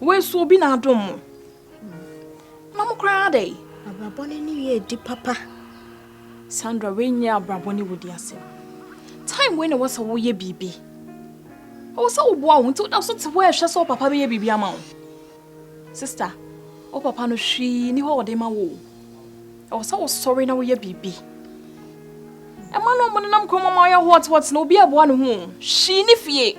Wei so obi na adom mo. Na mo koraa dɛ. Abrabɔ ne ne wie di papa. Sandra wei nyɛ abrabɔ ne wodi asɛm. Time wei na ɛwɔ sɛ woyɛ biribi. Ɛwɔ sɛ woboa wo ho nti woda so te hɔ ɛhwɛ sɛ wo papa bɛyɛ biribi ama wo. Sister, wo papa no hwee ni hɔ ɔde ma wo. Ɛwɔ sɛ wosɔre na woyɛ biribi. Ɛma no ɔmo nenam kɔn mu ma ɔyɛ hot hot na obi ɛboa ne ho. Hwee ne fie.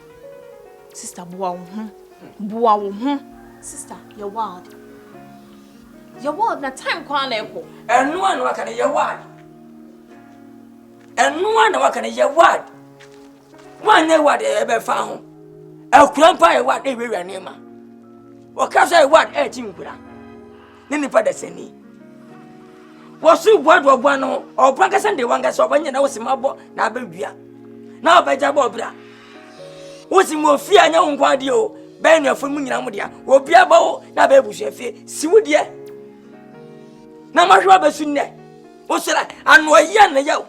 Sister boa wo ho boa wo ho. Sister yɛ wild yɛ wild na time kwan na ɛkɔ. Ɛno a na waka no yɛ wild ɛno a na waka no yɛ wild wanyɛ wild ɛbɛfa ho akura mpo ayɛ wild ɛwɛwura nneɛma ɔka sɛ wild ɛɛkyi nkura. ne nipa dasani wɔsoro bua do ɔbua no ɔbɔ ankasa de wankasa ɔbɔ nyɛ na wɔsi ma bɔ na abɛdua na ɔbɛgya bɔ ɔbra wosi mu ofie a nyɛ wo nko adeɛ o bɛyɛ nuafo mu nyinaa mo deɛ obi abɔ wo na abɛyɛ busua fie si wo deɛ na mahwɛ wa bɛsu nnɛ wosora ano ɔyɛ na yɛ o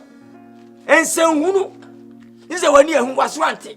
nsɛnhunu ne sɛ w'ani ahu waso ante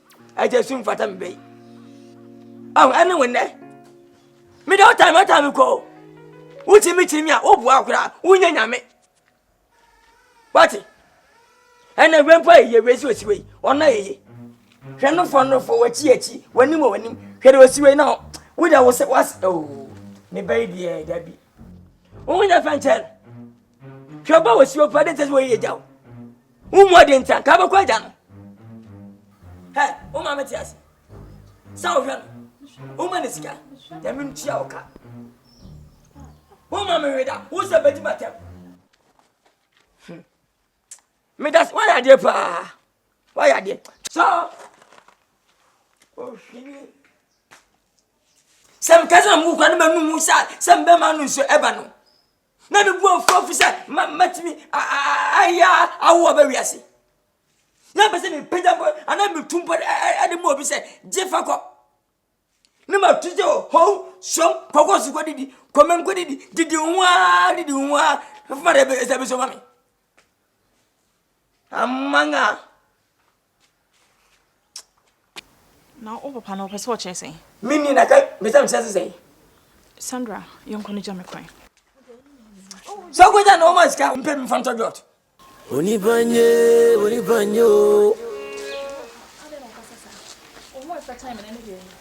Agya sum fata me bɛyi. Ahu ɛne wo nnɛ. Me de ɔtaa me ɔtaa me kɔ o. Wokyi me kyi me a woboa koraa wonyɛ nyame. Wate? Ɛnna wei mpo ayɛ wei sɛ osi wei ɔna yɛye. Hwɛ no fɔ no fɔ wakyi akyi w'anim wɔ w'anim hwɛ de osi wei na wo de wo sɛ was oo me bɛyi deɛ dabi. Wo ho nyɛ fɛnkyɛn. Hwɛ ɔba wɔ si wɔ pa de ntɛ sɛ wɔyɛ yɛ gya o. Wo mu ɔde nti anka bɛkɔ agya no. Hɛ, wo maame te ase. Sɛ wohwɛ no, woma ne sika, nyame ntua wo ka. Wo maame hwe da, wo sɛ bɛgyi matɛm. Hmm. Meda se, woayɛ adeɛ paa. Woayɛ adeɛ. Sɛ ohwini. Sɛ mekasa mu kura no ma num sa sɛ mbɛma no nsuo ɛba no. Na me bu afu afu sɛ mɛtumi ayɛ awo aba wiase. Na mpɛ sɛ mepagya mpo anaa metu mpo de mu obi sɛ gye fa kɔ. Ne ma tu sɛ o hɔn sɔm kɔkɔ so kɔ didi kɔmɛ nkɔ didi didi ho ara didi ho ara fama dɛ ɛsɛ bɛsɔ ma me. Amanga. Na wo papa no ɔpɛ sɛ ɔkyerɛ sɛn? Me ni na ka me sɛ mekyerɛ sɛ sɛn? Sandra, yɛnkɔ no gya me kwan. Sɛ wokɔ gya na wɔma sika mpɛ bi mfa ntɔ dwɔt. Onipa nye, onipa nye o.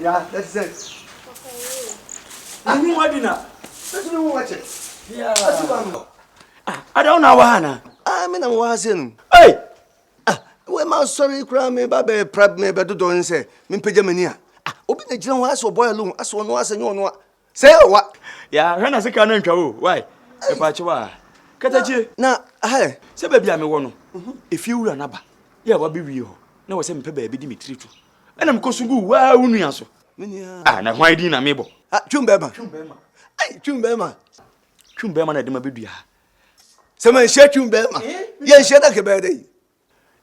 Ya, yɛte sɛn? Yɛnni mu adi na bɛtumi ho wakyɛ. Asi ba no. Ada wo na wɔ ha anaa? Ah, me na mewɔ ha sɛ no. Ei! Ah, wei ma sɔre koraa meba bɛpra mebɛdodɔ ne sɛ mempagya m'ani a. Ah, obi na gyina hɔ asɛ ɔbɔyɛ lo asɛ ɔno asɛ nyɛ ɔno a. Sɛ wa ya hwɛ na sika no ntwa o wai ɛpa akyi wa katakyie. Na ahɛ. Sɛ baabi a mewɔ no mhm. efie wura n'aba yɛ a wabɛwie hɔ na wɔ sɛ mepɛ baabi de me tiri to ɛna mekɔ so gu waa wo nua so. Ah, na hwan din na mebɔ. Ah, twum bɛrima. Twum bɛrima. Ai, twum bɛrima. Twum bɛrima na ɛde ma bɛdua ha. Sɛ manhyia twum bɛrima eh? yɛnhyia na kɛbɛyɛ dɛ yi.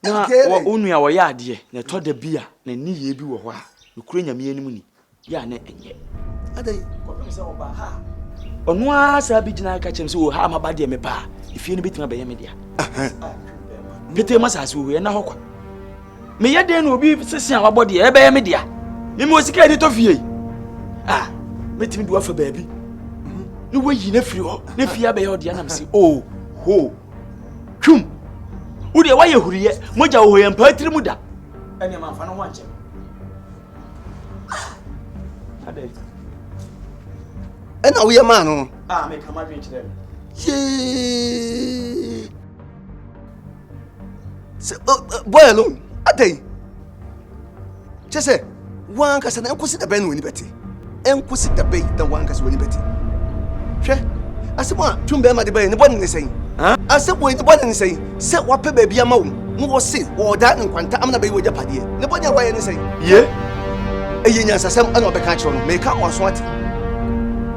Na wɔ wo nua ɔyɛ adeɛ na ɛtɔ da bi a ne nneyɛɛ bi wɔ hɔ a nokorɛ Nyame anim ni yɛ a na ɛnyɛ. Adɛn? Kɔpem sɛ ɔbaa ha a. Ɔno ara saa bi gyina ka kyerɛm sɛ wɔ ha maba deɛ meba a efie no bɛtumi abɛyɛ me dea. Petee ma saase wɔ hɔ ɛna hɔ kwa. Meyɛ dɛn na obi sese a wabɔ deɛ ɛbɛyɛ me dea. Mimi wɔ sika ɛde tɔ fie yi. Ah, mɛtumi de wafa baabi. Ne wayi ne firi hɔ ne fie abɛyɛ ɔdeɛ nam se oh hoo. twum wo deɛ woayɛ huriyɛ mogya wɔ hɔ yɛ mpaa tiri mu da ɛneɛ mamfa no ho ankyɛ ɛna woyɛ maa no no ah, meka madwen kyerɛ no yee sɛ boy alone adɛn Kyɛ sɛ, w'ankasa na ɛnkosi da bɛn na w'ani bɛte? Ɛnkosi da bɛn na w'ankasa w'ani bɛte? Hwɛ, asɛm a tum bɛrima de bae ne bɔne ne sɛn? Asɛm wei ne bɔne ne sɛn? Sɛ wɔapɛ baabi ama wo na wɔse wɔredan ne nkwanta amena bɛyɛ w'agyapadeɛ, ne bɔne a wɔayɛ ne sɛn? Yie, ɛyɛ nyansasɛm na wɔbɛka akyerɛ no. Meka ama w'aso ate.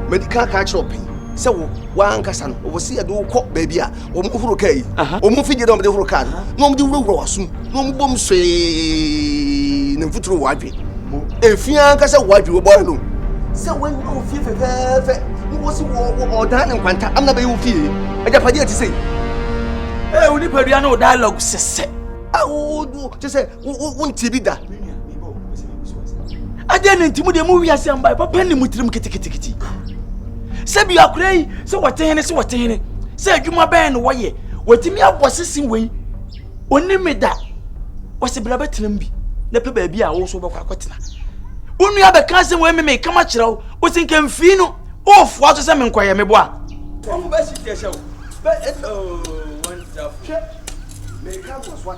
Madi kan aka akyerɛ wo pɛn sɛ wo, w'ankasa no, wɔse yɛde wo kɔ baabi a wɔn horo kaa yi wɔn mfidie dɛ wɔn de horo kaa no na wɔn de wurawura w'asom na wɔn bom hwee ne mfuturo wɔ adwe efi ankasa wɔ adwe wɔbɔ ano sɛ wɔn nyɛ ofie fɛfɛɛfɛ na wɔn si wɔ wɔ ɔdan ne nkwanta amina bɛyɛ ofie agyapadeɛ ti sɛ. ɛ onipadua ne o dialogue sɛsɛ. awo kyɛ sɛ wontee bi da adɛn ne nti mu deɛ mu wiase mbae papa ne mu tirim kitikitikiti sɛ bi akora yi sɛ wɔte hene sɛ wɔte hene sɛ adwuma bɛn na wɔyɛ wɔtumi abɔ sese wei ɔni me da wɔse bra bɛtenam bi na pɛ baabi a wo nso wobɛkɔ akɔtena wo nua bɛka asɛm wei meme kama kyerɛ wo wo se nka mfii no wofoa so sɛ menkɔyɛ mebɔ a wɔn bɛsi tiɛ hyɛ wo bɛ ɛtɔ wɔn tirafo meka nkɔsoa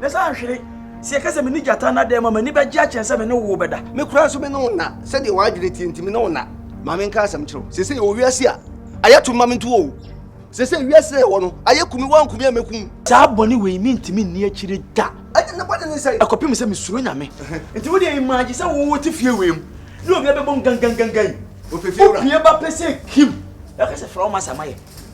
Ne nsa anhwere. Sɛ yɛka sɛ me ne gyata nna dɛm a, m'ani bɛgye akyɛn sɛ me ne wo bɛda. Me koraa nso me ne wo nna. Sɛdeɛ w'adwene teɛ nti, me ne wo nna. Ma menka asɛm nkyerɛ wo. Seesei yɛwɔ wiase a ayɛ to mma me nto oo. Seesei wiase a yɛwɔ no ayɛ kumi, woanku me a mɛku wo. Saa bɔne wei mentumi nni akyire da. Ɛnneɛ ne bɔne ne sɛn? Ɛkɔpem sɛ mesuro Nyame. Nti wo deɛ imagye sɛ wo wote fie wei mu ne obi abɛbom gangangangan, wopue ba pɛ sɛ kim, na waka sɛ frɛ wo masa ma yɛ.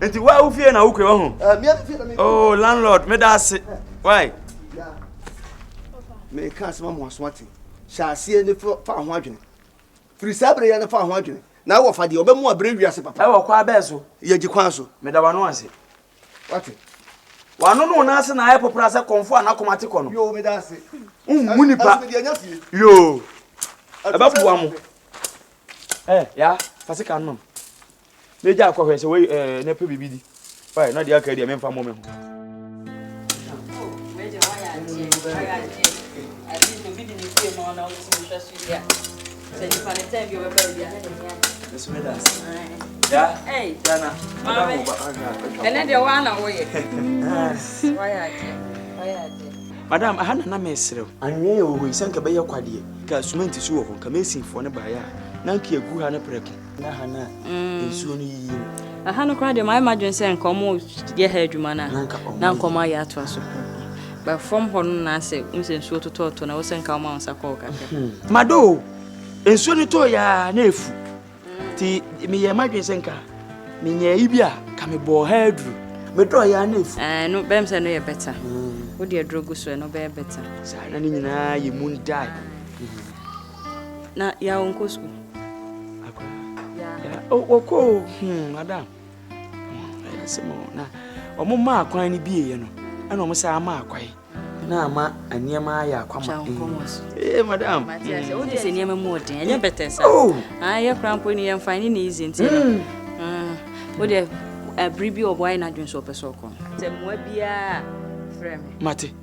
Nti wa wo fie na wo kwe wɔ ho. Oh landlord me da ase. Why? Me ka asema mo aso ate. Hyɛ aseɛ ne fa ho adwene. Firi saa bere ya ne fa ho adwene. Na wɔ fa deɛ ɔbɛmu abere wiase papa. Ɛwɔ kwa bɛɛ so. Yɛ gye kwan so. Me da wano ase. Wate. Wano no na ase na ayɛ popra sɛ kɔnfo a n'akoma te kɔ no. Yoo me da ase. Mmu nipa. Yoo. Ɛbɛboa mo. Ɛ ya fa sika no mam. na egya akɔ hwɛ sɛ wei ɛɛ eh, na ɛpɛ biribi di fae na deɛ aka yi deɛ memfa mmɔ me ho madam aha na na mereserɛ anwea yɛ wɔ hɔ yi sɛ nka bɛyɛ kwadeɛ ka sumenti so wɔ hɔ nka mesinfoɔ no baeɛ a na nka ɛgu ha no prɛko na ha na mm. nsuo no yiyi no aha no koraa deɛ mayɛ m'adwene sɛ nka ɔmo yɛ ha adwuma no a na nka ɔmo ayɛ atoa so ba fam hɔ no na sɛ wo sɛ nsuo totɔɔtɔ na wo sɛ nka ɔma wo nsa kɔɔ kakra hmm. mado nsuo no tɔɔ yɛa na ɛfu nti meyɛ m'adwene sɛ nka menyɛ yi bi a ka mebɔɔ ha aduru medɔɔ yɛa na ɛfu eh, no bɛm sɛ no yɛ bɛta hmm. wode aduro gu so ɛno bɛyɛ bɛta saa na ne nyinaa yɛ mu ndae hmm. Na ya ɔnkɔ sukuu. Wɔkɔ o, hmm, madam. Ɛyɛ asɛm o. Na wɔn maa kwan no bieɛ no, ɛna wɔn san maa kwan. Na ama nneɛma ayɛ akwama. Ee, madam. Wode sɛ nneɛma mu ɔden, ɛnyɛ bɛtɛ sa. Ayɛ kora mpo ne yɛmfa ne ne izi nti no. Wode bere bi ɔbɔ ayɛ n'adwene sɛ ɔpɛ sɛ ɔkɔ. Sɛ mmoa biara frɛ me. Mate.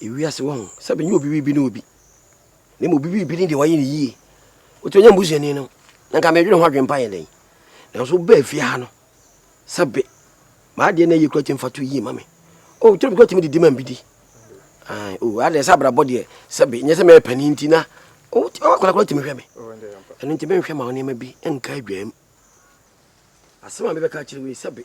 Ewiase wahu sɛ menye obi biribi ne obi, na mmom obi biribi ne deɛ wayɛ no yie. Wotumi nya m'busuani no, na nka medwene ho adwempa yɛ dɛn? Nanso wobaa fie ha no, sɛbe m'adeɛ na ɛyɛ kura tumi fa to yie ma me. O, oh, twerɛ bi kura tumi didi ma me bi di. Ae, o, oh, adeɛ sɛ abrabɔ deɛ, sɛbe nyɛ sɛ mɛyɛ panin nti na oh, wakora kora tumi hwɛ me. Ɛno nti menhwɛ ma wo nneɛma bi nka adwaam. Asɛm a mebɛka akyerɛ wo yi, sɛbe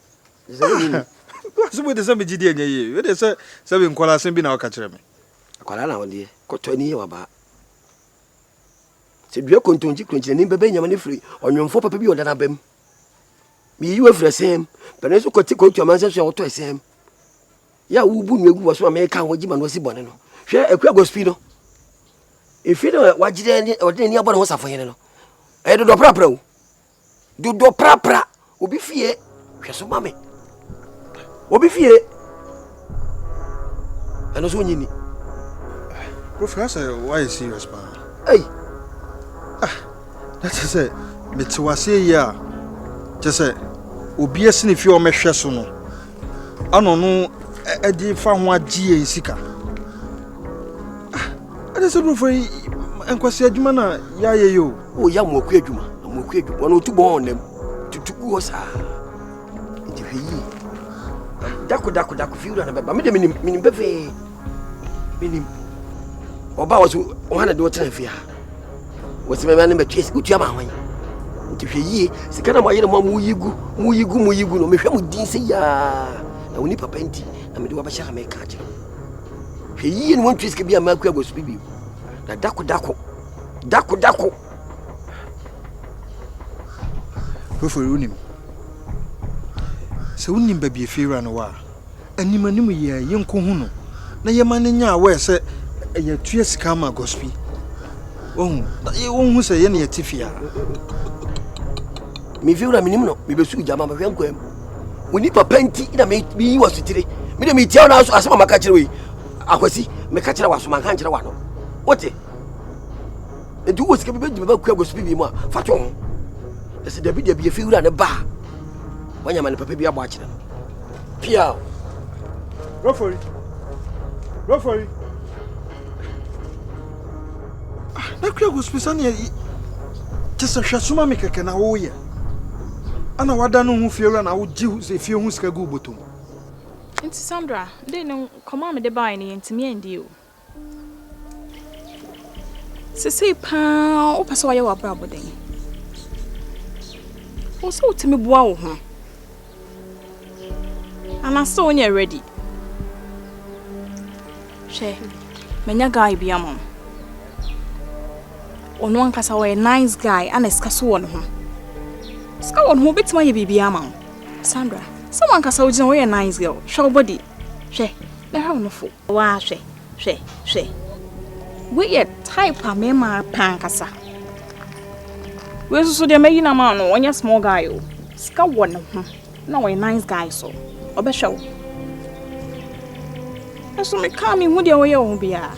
Asɛm yi te sɛ me gyidi ɛnyɛ yie. Wei deɛ sɛ sɛ me nkwadaa asɛm bi na woka kyerɛ me. Akwadaa na wɔdeɛ kɔtɔ ani yɛ wabaa. Sɛ dua kontonkye kuronkye n'anim bɛbɛ nyama no firi ɔnwomfoɔ papa bi a ɔda n'aba mu. Meyiyi wo afiri ɛsɛm. Pɛne nso kɔte kɔtu amansɛ so a wɔtɔ ɛsɛm. Yɛ a wobu nua gu wɔ so a meka ho agye ma no asi bɔne no. Hwɛ akua agospi no. Ɛfiri no wagyerɛ ɔde n'ani abɔ ne ho safohene no. Ɛyɛ dodoɔ prapra o. Dodoɔ prapra obi fie hwɛ so ma me obi fie ɛno so onyini. Kofi asɛ wayɛ serious paa. Ei. Ah, na kyɛ sɛ mete waseɛ yi a kyɛ sɛ obi asi ne fie ɔmɛhwɛ so no Ano no ɛde fa ho agye yɛn sika. Ɛde sɛ brofo yi nkwasi adwuma na yɛayɛ yi o. O yɛ amoako adwuma, amoako adwuma. Wɔn otu bɔn ɔnam, tutu gu hɔ saa. Nti hwɛ yie. Dako dako dako fi wura no bɛba. Me de menim menim pefee. menim ɔba wɔ so ɔha na de wo tena fie ha wɔsi mɛma ne bɛtwe wotua ma hwan nti hwɛ yie sika na moayere mo a moyi gu moyi gu moyi gu no mehwɛ mo din sɛ yiaa na woni papa nti na mede wabɛhyɛ ha mɛka akyerɛ hwɛ yie ne wɔntwe sika bi a maakua bɔ so bi bio na dako dako dako dako fofori wonim sɛ wonim baabi afiewura no wɔ a anim-anim yɛɛ yɛnkohu no na yɛma no nya aware sɛ yɛtua sika ama gɔspi. Wahu? Na yɛ wɔnhu sɛ yɛne yɛte fie a. Me fiewura menim no, mebɛsuu gya ma mehwɛ nkwaa mu. Wo nipa pa nti na meyi wɔ sotire. Me de metia wo na asɛm a maka kyerɛ wo yi, akwasi, meka kyerɛ w'aso manka nkyerɛ w'ano. Wote? Nti wowɔ sika bi bɛdi me ba kua gɔspi bi mu a, fa to ho. Ɛsɛ dabi dabi yɛfiewura ne ba a wanya amane papa bi abɔ akyerɛ no piaw brofori brofori ah, na kura gospi sɛneɛ kyɛ sɛ hwɛ soma me kɛkɛ na woyɛ ana wada no ho fie wura na wogye fie ho sika gu botom nti sandra de no nkɔmmɔ a mede baeɛ no yɛntumi andi o Sesei paa wopɛ sɛ wɔyɛ w'abrabɔ dɛn? Wo sɛ wotumi boa wo ho? Anaasɛ wonyɛ ready? Hwɛ, manya guy bi ama wo. Ɔno ankasa wɔyɛ nice guy ana sika so wɔ ne ho. Sika wɔ ne ho wobɛtumi ayɛ biribiara ama wo. Sandra, sɛ wankasa wogyina woyɛ nice girl, hwɛ wo body. Hwɛ, na hwɛ wo nofo. Waa hwɛ hwɛ hwɛ. Wei yɛ type a me maa paa ankasa. Wei nso so deɛ mayi na maa no ɔnyɛ small guy o. Sika wɔ ne ho na ɔyɛ nice guy so ɔbɛhwɛ wo. Nso me kaa me hu deɛ ɔyɛ wɔ ho biara.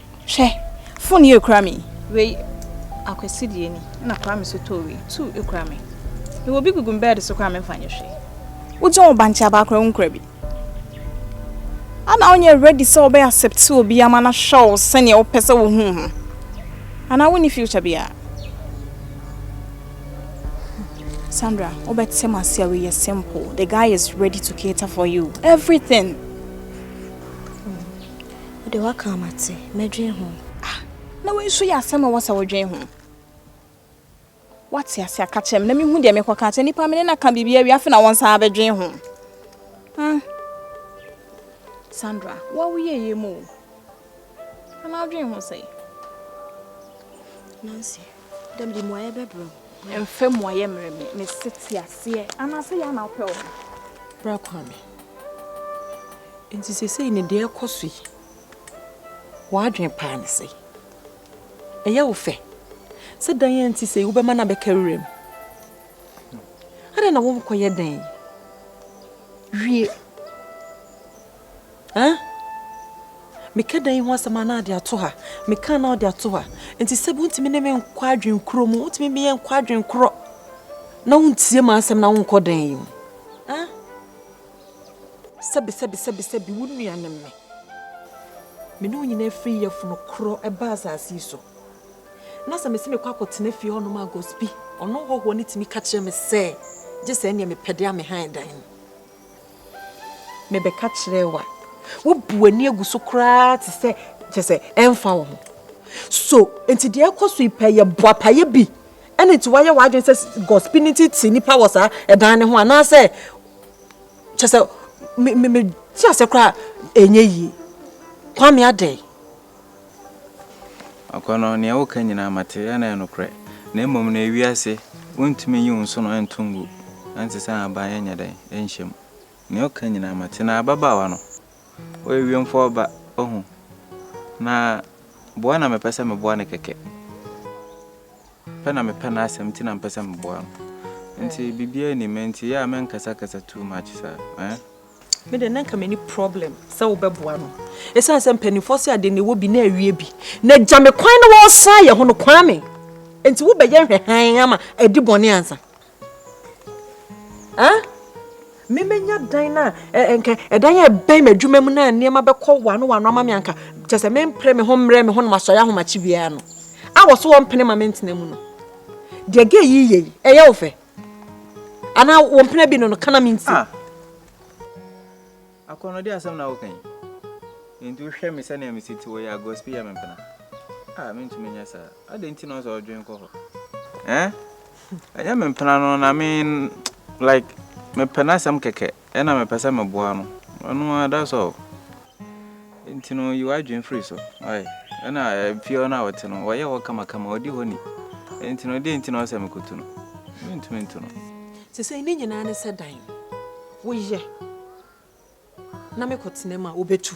Hwɛ! Fon yi ekura me yi. Wei Akwasi deɛ ni, ɛna Kwame so tɔɔ wei. Two ekura me. Mewɔ bi gugu me bɛɛde so koraa memfa nyɛ hwee. Wogye wo bankye abaa koraa wonkura bi. Ana wonyɛ ready sɛ wobɛ accept obi ama no ahwɛ wo sɛdeɛ wopɛ sɛ wohu wo ho? Anaa wonni future biara? Sandra, wobɛte mu ase a wei yɛ simple. The guy is ready to cater for you. Everything. Wo de w'aka a mate, mɛdwen ho. Ah! Na wei nso yɛ asɛm a ɛwɔ sɛ wodwen ho? Woate ase a ka kyerɛ me na mehu deɛ mekɔ ka akyerɛ nipa me ne na ka biribi awie afe na wɔn san abɛdwen ho. Hmm. Sandra, wo a woyɛ yie mu o. Ana wodwen ho sɛe? Nancy, Dɛ mede mmuaeɛ bɛbrɛ wo. Mfa mmuaeɛ mmrɛ me. Mese te aseɛ. Anaasɛ yei na wopɛ wɔ me. Bra kora me. Enti seesei no deɛ ɛrekɔ so yi, w'adwene paa ne sɛ ɛyɛ wo fɛ sɛ dan a ɛnte sei wobɛma no abɛka wuram? Adɛn na wonkɔyɛ dan yi wie? Eh? Meka dan yi ho asɛm a na ade ato ha. Meka a na ɔde ato ha. Nti sɛbi wontumi ne me nkɔ adwen koro mu. Wontumi me yɛ nkɔ adwen korɔ. Na wontie m'asɛm na wonkɔ dan yi mu. Eh? Sɛbi sɛbi sɛbi sɛbi wo nua ne me. Me ne wo nyinaa firi yɛfono korɔ ɛba asase yi so. Na sɛ mese mekɔ akɔtena fie hɔnom a Gospi, ɔno hɔhoɔ no tumi ka kyerɛ me sɛ gye sɛ ɛneɛ mepɛ de a mehan dan no. Mebɛka kyerɛɛ wo a, wobu w'ani agu so koraa te sɛ kyɛ sɛ ɛmfa wo ho. So nti deɛ ɛkɔ so yi pɛ yɛ boapayɛ bi ɛna nti wayɛ w'adwene sɛ gospel no nti te nipa wɔ saa ɛdan no ho anaasɛ kyɛ sɛ me me me te aseɛ koraa ɛnyɛ yie. Kwame adɛn? Ɔkɔ no, nea woka nyinaa mate, ɛna ɛyɛ nokorɛ. Na mmom no, ewiase, wontumi nyi wo nsono nto ngu, ɛnte sɛ ahaban ɛnyɛ dɛn, ɛnhyɛ mu. Nea woka nyinaa mate. Na ababaawa no, ɔyɛ wiemfoɔ ba, ohu. Na boa na mepɛ sɛ meboa no kɛkɛ. Pɛ na mepɛ n'asɛm nti na mepɛ sɛ meboa no. Nti biribiara nnim, nti yɛ a menkasakasa too much saa, eh? Me deɛ na nka mani problem sɛ wobɛboa no ɛsiane sɛ mpanimfoɔ se ade na ɛwɔ bi na awie bi na gya me kwan na wɔsan yɛ ho no kwan me nti wobɛyɛ nhwɛhan ama adi bɔne ansa ah memenya dan no a nka ɛdan a ɛbɛn m'adwuma mu no a nneɛma bɛkɔ wano wano ama me anka kyɛ sɛ mempere me ho mmerɛ me ho na masɔre ahomakye biara no a wɔ so wɔmpene ma mentena mu no deɛ gɛ yi yɛ yi ɛyɛ wo fɛ Ana wo mpena bi no no kana me nti. Ah! Akɔnɔde asɛm na woka yi. Enti wohwɛ me sɛnea mesi te wɔ yi a gossip yɛ me mpena. Ah, mentumi nyɛ saa. Adɛn nti na ɔsɛ ɔdwen kɔ hɔ? Eh? Ɛnyɛ me mpena no na me like mepɛ n'asɛm kɛkɛ. Ɛna mepɛ sɛ meboa no ɛno ara that's all nti no yi w'adwene firi so ɔyɛ ɛna fie hɔ no a ɔte no ɔyɛ hɔ kamakama ɔdi hɔ ni nti no deɛ nti na ɔsɛ mekotu no mentumi nto no. Sesei ne nyinaa ne sɛ dan woyɛ na mekɔtena mu a wobɛtu.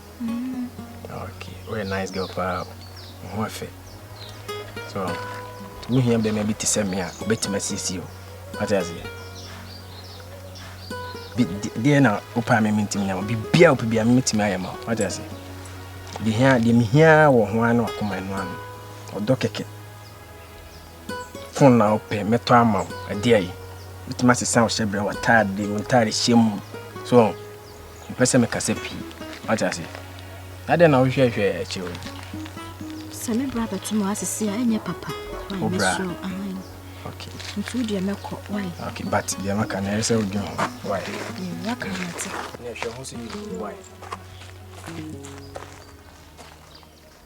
Okay, woyɛ nice girl paa o. Wo ho afɛ. So, tumi hia bɛrima bi te sɛ me a obɛtumi asiesie o. Wate aseɛ? Deɛ na wopɛ a meme ntumi nya ma biribiaa wopɛ biaa meme tumi ayɛ ma wo. Wate aseɛ? Deɛ mehia wɔ ho ara ne wakoma ɛno ano. Ɔdɔ kɛkɛ. Fon na wopɛ mɛtɔ ama wo. Ɛdeɛ yi. Mɛtumi asesa wo hyɛ berɛ, w'ataade, wo ntaade hyɛ mu. So, mepɛ sɛ mekasa pii. Wate ase? Na dɛn na wohwɛhwɛ akyiri hɔ? Sɛ me bra bɛto mu ase se a, ɛnyɛ papa. Wo bra? Okay. Nti wo deɛ mɛkɔ, why? Okay, but deɛ maka na ɛyɛ sɛ wodwen ho, why? Mm, waka na mate. Na ɛhwɛ ho so yie, why?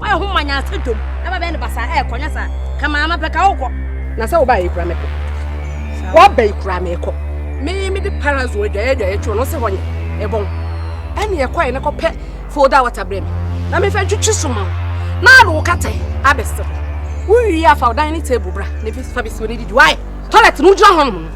Wayɛ ho ma nyansa dwom na babɛyɛ no basaa ɛɛ kɔnyɛ saa ka maa ma pɛ ka wokɔ. Na sɛ wobaeɛ kura mɛkɔ. Woaba yi kura mɛkɔ. Me mede parazon adwaeɛ adwaeɛ twɛ no sɛ hɔ nyɛ ɛbɔn. Ɛne ɛkɔɛ ne kɔpɛ folda wɔta berɛ me na mefɛ twetwe so ma wo na ade wo katɛ abɛsɛ hɔ. Wowie a fa ɔdan ne table bra na fa bɛsi w'ani didi. Wayɛ tɔlɛt no wogyina hɔ nom no.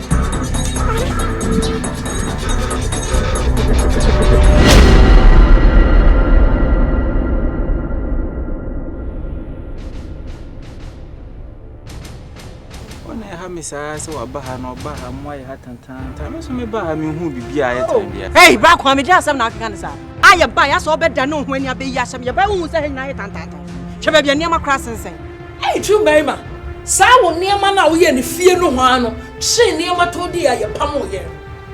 me saa sɛ waba ha na ɔba ha mu ayɛ ha tantaanta me nso meba ha mehu biribi a ayɛ tan bia hei bra kwa mede asɛm na akeka ne saa a yɛba yɛ sɛ wobɛda ne ho ani abɛyi asɛm yɛba wohu sɛ ha nyinaa yɛ tantaanta hwɛ baabi a nneɛma kora sensɛn Ei Jew barima, saa wo nneɛma no a woyɛɛ no fie nohoaa no kyere nneɛma tɔn dii a yɛpamoo yɛn no.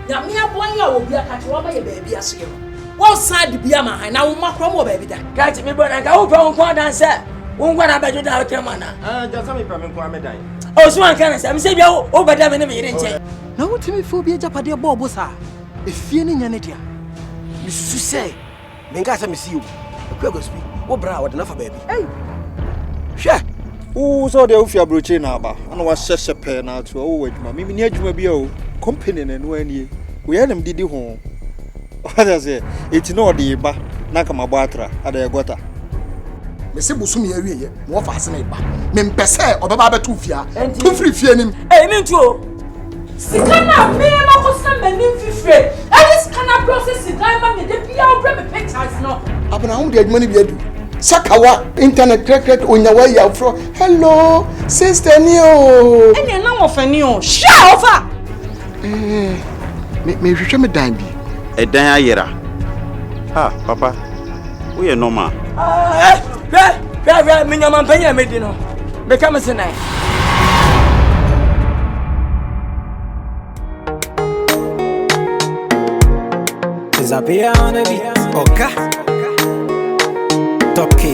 Nyame aboa yɛn a wɔ bia ka kyerɛ wama yɛ baabi ase yɛ no. Wonsan de bi ama han na womma koraa wɔ baabi da. Gati me bɔ na nka wopɛ wo nko adan sɛ wo nko na bɛdwo dan wotrɛ mu ana? Aa gya sɛ mepɛ me nko ara me dan. Osu anka no sɛ mesɛ bia wo bɛda me ne me yere nkyɛn. Na wotumi fa obi agyapadeɛ bɔ ɔbo saa? Efie no nyɛ ne dea. Mesusu sɛ Menkaa sɛ mese o. Akua Guasu bi, wo bra a wɔde no afa baabi. Ei! Hwɛ! Wo sɛ ɔde wofi aburokyire na aba, ɛna wahyɛ hyɛ pɛɛ na ato ɔwɔ wɔ adwuma. Mimi ni adwuma bi a o, company na ɛno anie. Woyɛ nam didi ho. Ɔde aseɛ, eti na ɔde ba, na nka mabɔ atra, ada yɛ gɔta. Mese bosome awie yɛ, na wɔfa ase na ɛba. Mempɛ sɛ ɔbɛba abɛto wo fie a, tu firi fie anim. Ei, mentu o. Sika no a me makɔsra m'anim fifire de sika no abrɛ sɛ sidan ma me da biara wobrɛ me pictures no. Abena ho de adwuma no bi adu. Sakawa internet krɛkrɛk onyawa yi afro. Hello sister ni o. Ɛnna na wɔfɛ ni o. Hyia ɔfa. Eh, me me hwehwɛ me dan bi. Ɛdan ayera. Ah, papa. woyɛ nɔma. Ah, hwɛ hwɛ hwɛ me nyamanpanyin a medi no meka me se nan Disappear on the beat. Oka. Toki.